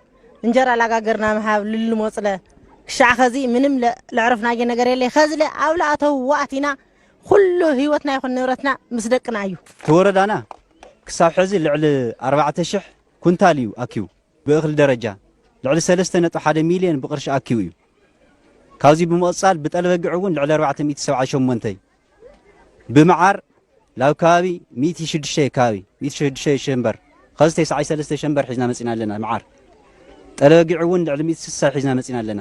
S25: እንጀራ ላጋገርና ምሃብ ልልሞፅለ ክሻዕ ኸዚ ምንም ለዕረፍናዬ ነገር የለይ። ኸዚለ ኣብ ልኣተውዎ ኣቲና ኹሉ ህይወትና ይኹን ንብረትና ምስ ደቅና እዩ። እቲ ወረዳና
S26: ክሳብ ሕዚ ልዕሊ ኣርባዕተ ሽሕ ኩንታል እዩ ኣኪቡ። ብእኽሊ ደረጃ ልዕሊ ሰለስተ ነጥቢ ሓደ ሚሊየን ብቕርሺ ኣኪቡ እዩ። ካብዚ ብምቕፃል ብጠልበጊዕ እውን ልዕሊ ኣርባዕተ ሚእቲ ሰብዓን ሸሞንተይ፣ ብመዓር ላብ ከባቢ ሚእቲ ሽዱሽተ ከባቢ ሚእቲ ሽዱሽተ ሸንበር ኸዚ ተስዓይ ሰለስተ ሸንበር ሒዝና መፂና ኣለና። መዓር ጠልበጊዕ እውን ልዕሊ ሚእቲ ስሳ ሒዝና መፂና ኣለና።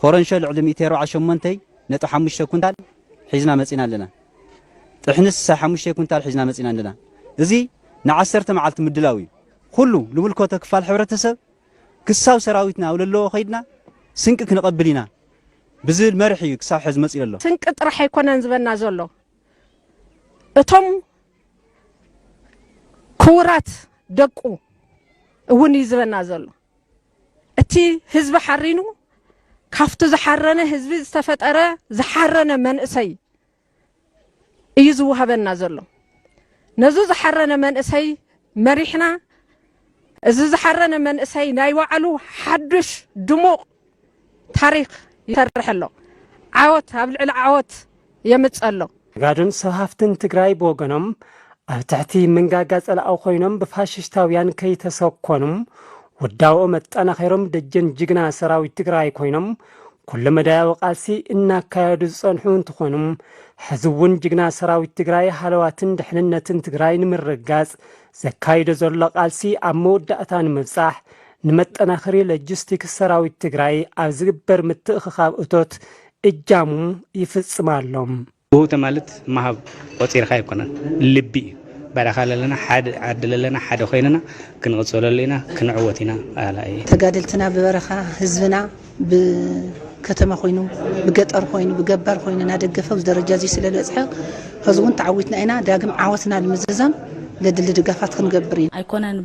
S26: ኾረንሾ ልዕሊ ሚእቲ ኣርብዓ ሸሞንተ ነጥቢ ሓሙሽተ ኩንታል ሒዝና መፂና ኣለና። ጥሕኒ ስሳይ ሓሙሽተ ኩንታል ሒዝና መፂና ኣለና። እዚ ንዓሰርተ መዓልቲ ምድላው እዩ። ኹሉ ልምልከቶ ክፋል ሕብረተሰብ ክሳብ ሰራዊትና ኣብ ለለዎ ከይድና ስንቂ ክንቐብል ኢና ብዝብል መርሒ እዩ ክሳብ ሕዚ መፂኡ ለሎ። ስንቂ ጥራሕ ኣይኮነን
S25: ዝበና ዘሎ እቶም ክቡራት ደቁ እውን እዩ ዝበና ዘሎ። እቲ ህዝቢ ሓሪኑ ካብቲ ዝሓረነ ህዝቢ ዝተፈጠረ ዝሓረነ መንእሰይ እዩ ዝወሃበና ዘሎ ነዚ ዝሓረነ መንእሰይ መሪሕና እዚ ዝሓረነ መንእሰይ ናይ ባዕሉ ሓዱሽ ድሙቕ ታሪኽ ይሰርሕ ኣሎ። ዓወት ኣብ ልዕሊ ዓወት የምጽእ ኣሎ። ነጋዶን ሰብ ሃፍትን
S23: ትግራይ ብወገኖም፣ ኣብ ትሕቲ መንጋጋ ጸላኢ ኮይኖም ብፋሽሽታውያን ከይተሰኮኑ፣ ውዳበኦም ኣጠናኺሮም ደጀን ጅግና ሰራዊት ትግራይ ኮይኖም ኩለመዳያዊ ቃልሲ እናካየዱ ዝጸንሑ እንትኾኑ፣ ሕዚ እውን ጅግና ሰራዊት ትግራይ ሃለዋትን ድሕንነትን ትግራይ ንምርግጋጽ ዘካይዶ ዘሎ ቃልሲ ኣብ መወዳእታ ንምብጻሕ ንመጠናኸሪ ሎጂስቲክስ ሰራዊት ትግራይ ኣብ ዝግበር ምትእኽኻብ እቶት እጃሙ ይፍፅም ኣሎ። ውህብቶ
S27: ማለት ምሃብ ቆፂርካ ኣይኮነን ልቢ እዩ በረኻ ለለና ሓደ ዓዲ ለለና ሓደ ኮይንና ክንቕፅለሉ ኢና ክንዕወት ኢና ኣላዪ። ተጋደልትና
S28: ብበረኻ ህዝብና ብከተማ ኮይኑ ብገጠር ኮይኑ ብገባር ኮይኑ እናደገፈ ኣብዚ ደረጃ እዚ ስለበፅሐ ሕዚ እውን ተዓዊትና ኢና ዳግም ዓወትና ንምዝዛም ዘድሊ ድጋፋት ክንገብር ኢና። ኣይኮነን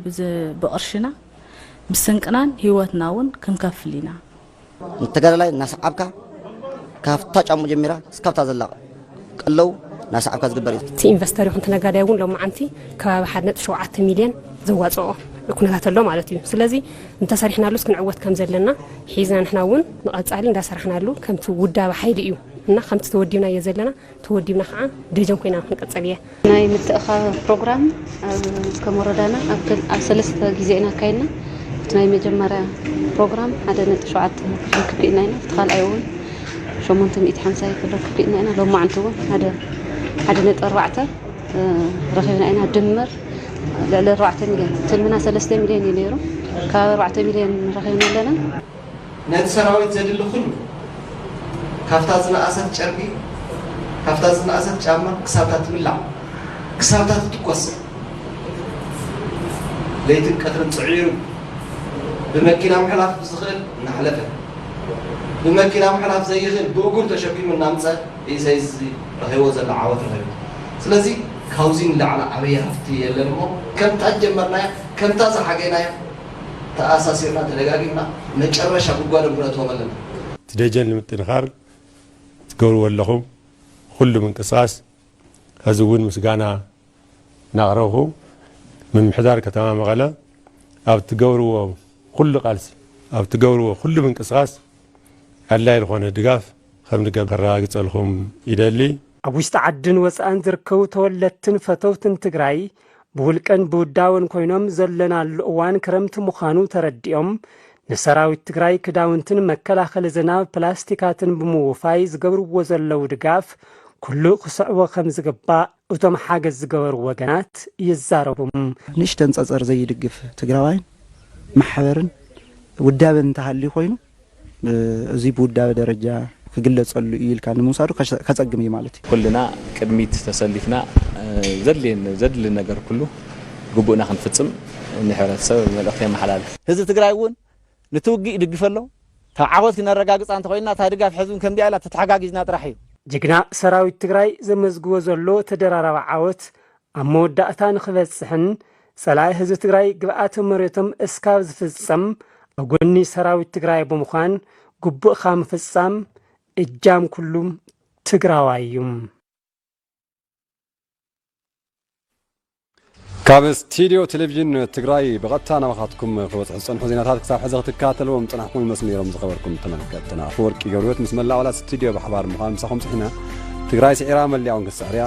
S29: ብቅርሽና ብስንቅናን ህይወትና እውን ክንከፍል ኢና። ንተጋዳላይ
S30: እናሰዓብካ ካብታ ጫሙ ጀሚራ እስካብታ ዘላ ቅልው ናሰዓብካ ዝግበር እዩ። እቲ ኢንቨስተር ይኹን እቲ ነጋዳይ
S11: እውን ሎማዓንቲ ከባቢ ሓደ ነጥቢ ሸውዓተ ሚልየን ዘዋፅኦ ኩነታት ኣሎ ማለት እዩ። ስለዚ እንተሰሪሕናሉስ ክንዕወት ከምዘለና ሒዝና ንሕና እውን ንቐፃሊ እንዳሰራሕናሉ ከምቲ ውዳበ ሓይሊ እዩ እና ከምቲ ተወዲብናዮ ዘለና ተወዲብና ከዓ ደጀን ኮይና ክንቅፅል እየ። ናይ ምትእኻ
S31: ፕሮግራም ከም ወረዳና ኣብ ሰለስተ ግዜ ኢና ኣካይድና እቲ ናይ መጀመርያ ፕሮግራም ሓደ ነጥቢ ሸውዓተ ክፍሊ ኢና እቲ ካልኣይ እውን ሸሞንተ ሚእቲ ሓምሳ ክፍሊ ክፍሊና ኢና ሎማዕንቲ እውን ሓደ ሓደ ነጥቢ ኣርባዕተ ረኺብና ኢና ድምር ልዕሊ ኣርባዕተ ሚልዮን ትልምና ሰለስተ ሚልዮን እዩ ነይሩ ካብ ኣርባዕተ ሚልዮን ረኺብና ኣለና ነቲ
S7: ሰራዊት ዘድሊ ኩሉ ካብታ ዝነኣሰት ጨርቂ ካብታ ዝነኣሰት ጫማ ክሳብታ ትብላዕ ክሳብታ ትትኮስ ለይትን ቀትርን ጽዒሩ ብመኪና ምሕላፍ ብዝኽእል እናሕለፈ ብመኪና ምሕላፍ ዘይኽእል ብእግሩ ተሸኪሙ እናምጸ እዩ ሰይዚ ረኺቦ ዘሎ ዓወት ረኺቡ ስለዚ ካብዚ ንላዕሊ ዓብይ ሃፍቲ የለን እሞ ከምታ ዝጀመርናያ ከምታ ዝሓገናያ ተኣሳሲርና ተደጋጊምና መጨረሻ ጉድጓዶም ክነእትዎም ኣለና። እቲ
S3: ደጀን ንምጥንኻር ትገብርዎ ዘለኹም ኹሉ ምንቅስቓስ ሐዚ እውን ምስጋና እናቕረብኹ ምምሕዳር ከተማ መቐለ ኣብ እትገብርዎ ኹሉ ቃልሲ ኣብ እትገብርዎ ኹሉ ምንቅስቓስ ኣድላይ ዝኾነ ድጋፍ ከምንገብር ከረጋግፀልኹም ይደሊ። ኣብ ውሽጢ ዓድን
S23: ወፃእን ዝርከቡ ተወለድትን ፈተውትን ትግራይ ብውልቀን ብውዳበን ኮይኖም ዘለናሉ እዋን ክረምቲ ምዃኑ ተረዲኦም ንሰራዊት ትግራይ ክዳውንትን መከላኸሊ ዝናብ ፕላስቲካትን ብምውፋይ ዝገብርዎ ዘለዉ ድጋፍ ኩሉ ክስዕቦ ከም ዝግባእ እቶም ሓገዝ ዝገበሩ ወገናት ይዛረቡ። ንእሽተን ፀፀር
S22: ዘይድግፍ ትግራዋይን ማሕበርን ውዳበን እንተሃልዩ ኮይኑ እዚ ብውዳበ ደረጃ ክግለጸሉ እዩ ኢልካ ንምውሳዱ ከጸግም እዩ ማለት እዩ። ኩልና ቅድሚት
S4: ተሰሊፍና ዘድሊ ነገር ኩሉ ግቡእና ክንፍጽም ንሕብረተሰብ መልእኽተይ የመሓላልፍ። ህዝቢ ትግራይ እውን
S22: ንቲ ውግእ ይድግፍ ኣሎ። ካብ ዓወት ክነረጋግጻ እንተኾይንና እታ ድጋፍ ሕዚ እውን ከምዚኣ ኢላ ተተሓጋጊዝና ጥራሕ እዩ። ጅግና ሰራዊት
S23: ትግራይ ዘመዝግቦ ዘሎ ተደራራቢ ዓወት ኣብ መወዳእታ ንክበፅሕን ፀላኢ ህዝቢ ትግራይ ግብኣተ መሬቶም እስካብ ዝፍፀም ኣብ ጎኒ ሰራዊት ትግራይ ብምዃን ግቡእካ ምፍፃም እጃም ኩሉ ትግራዋይ እዩ።
S1: ካብ ስቲድዮ ቴሌቭዥን ትግራይ ብቐጥታ ናባኻትኩም ክበፅሑ ዝፀንሑ ዜናታት ክሳብ ሕዚ ክትከታተልዎም ዝፀናሕኩም መስሚሮም ዝኸበርኩም ተመልከትና ኣፈወርቂ ገብርወት ምስ መላእ ኣባላት ስቲድዮ ብሓባር ምዃን ምሳኹም ፅሒና ትግራይ ስዒራ መሊኣ እውን ክትስዕር እያ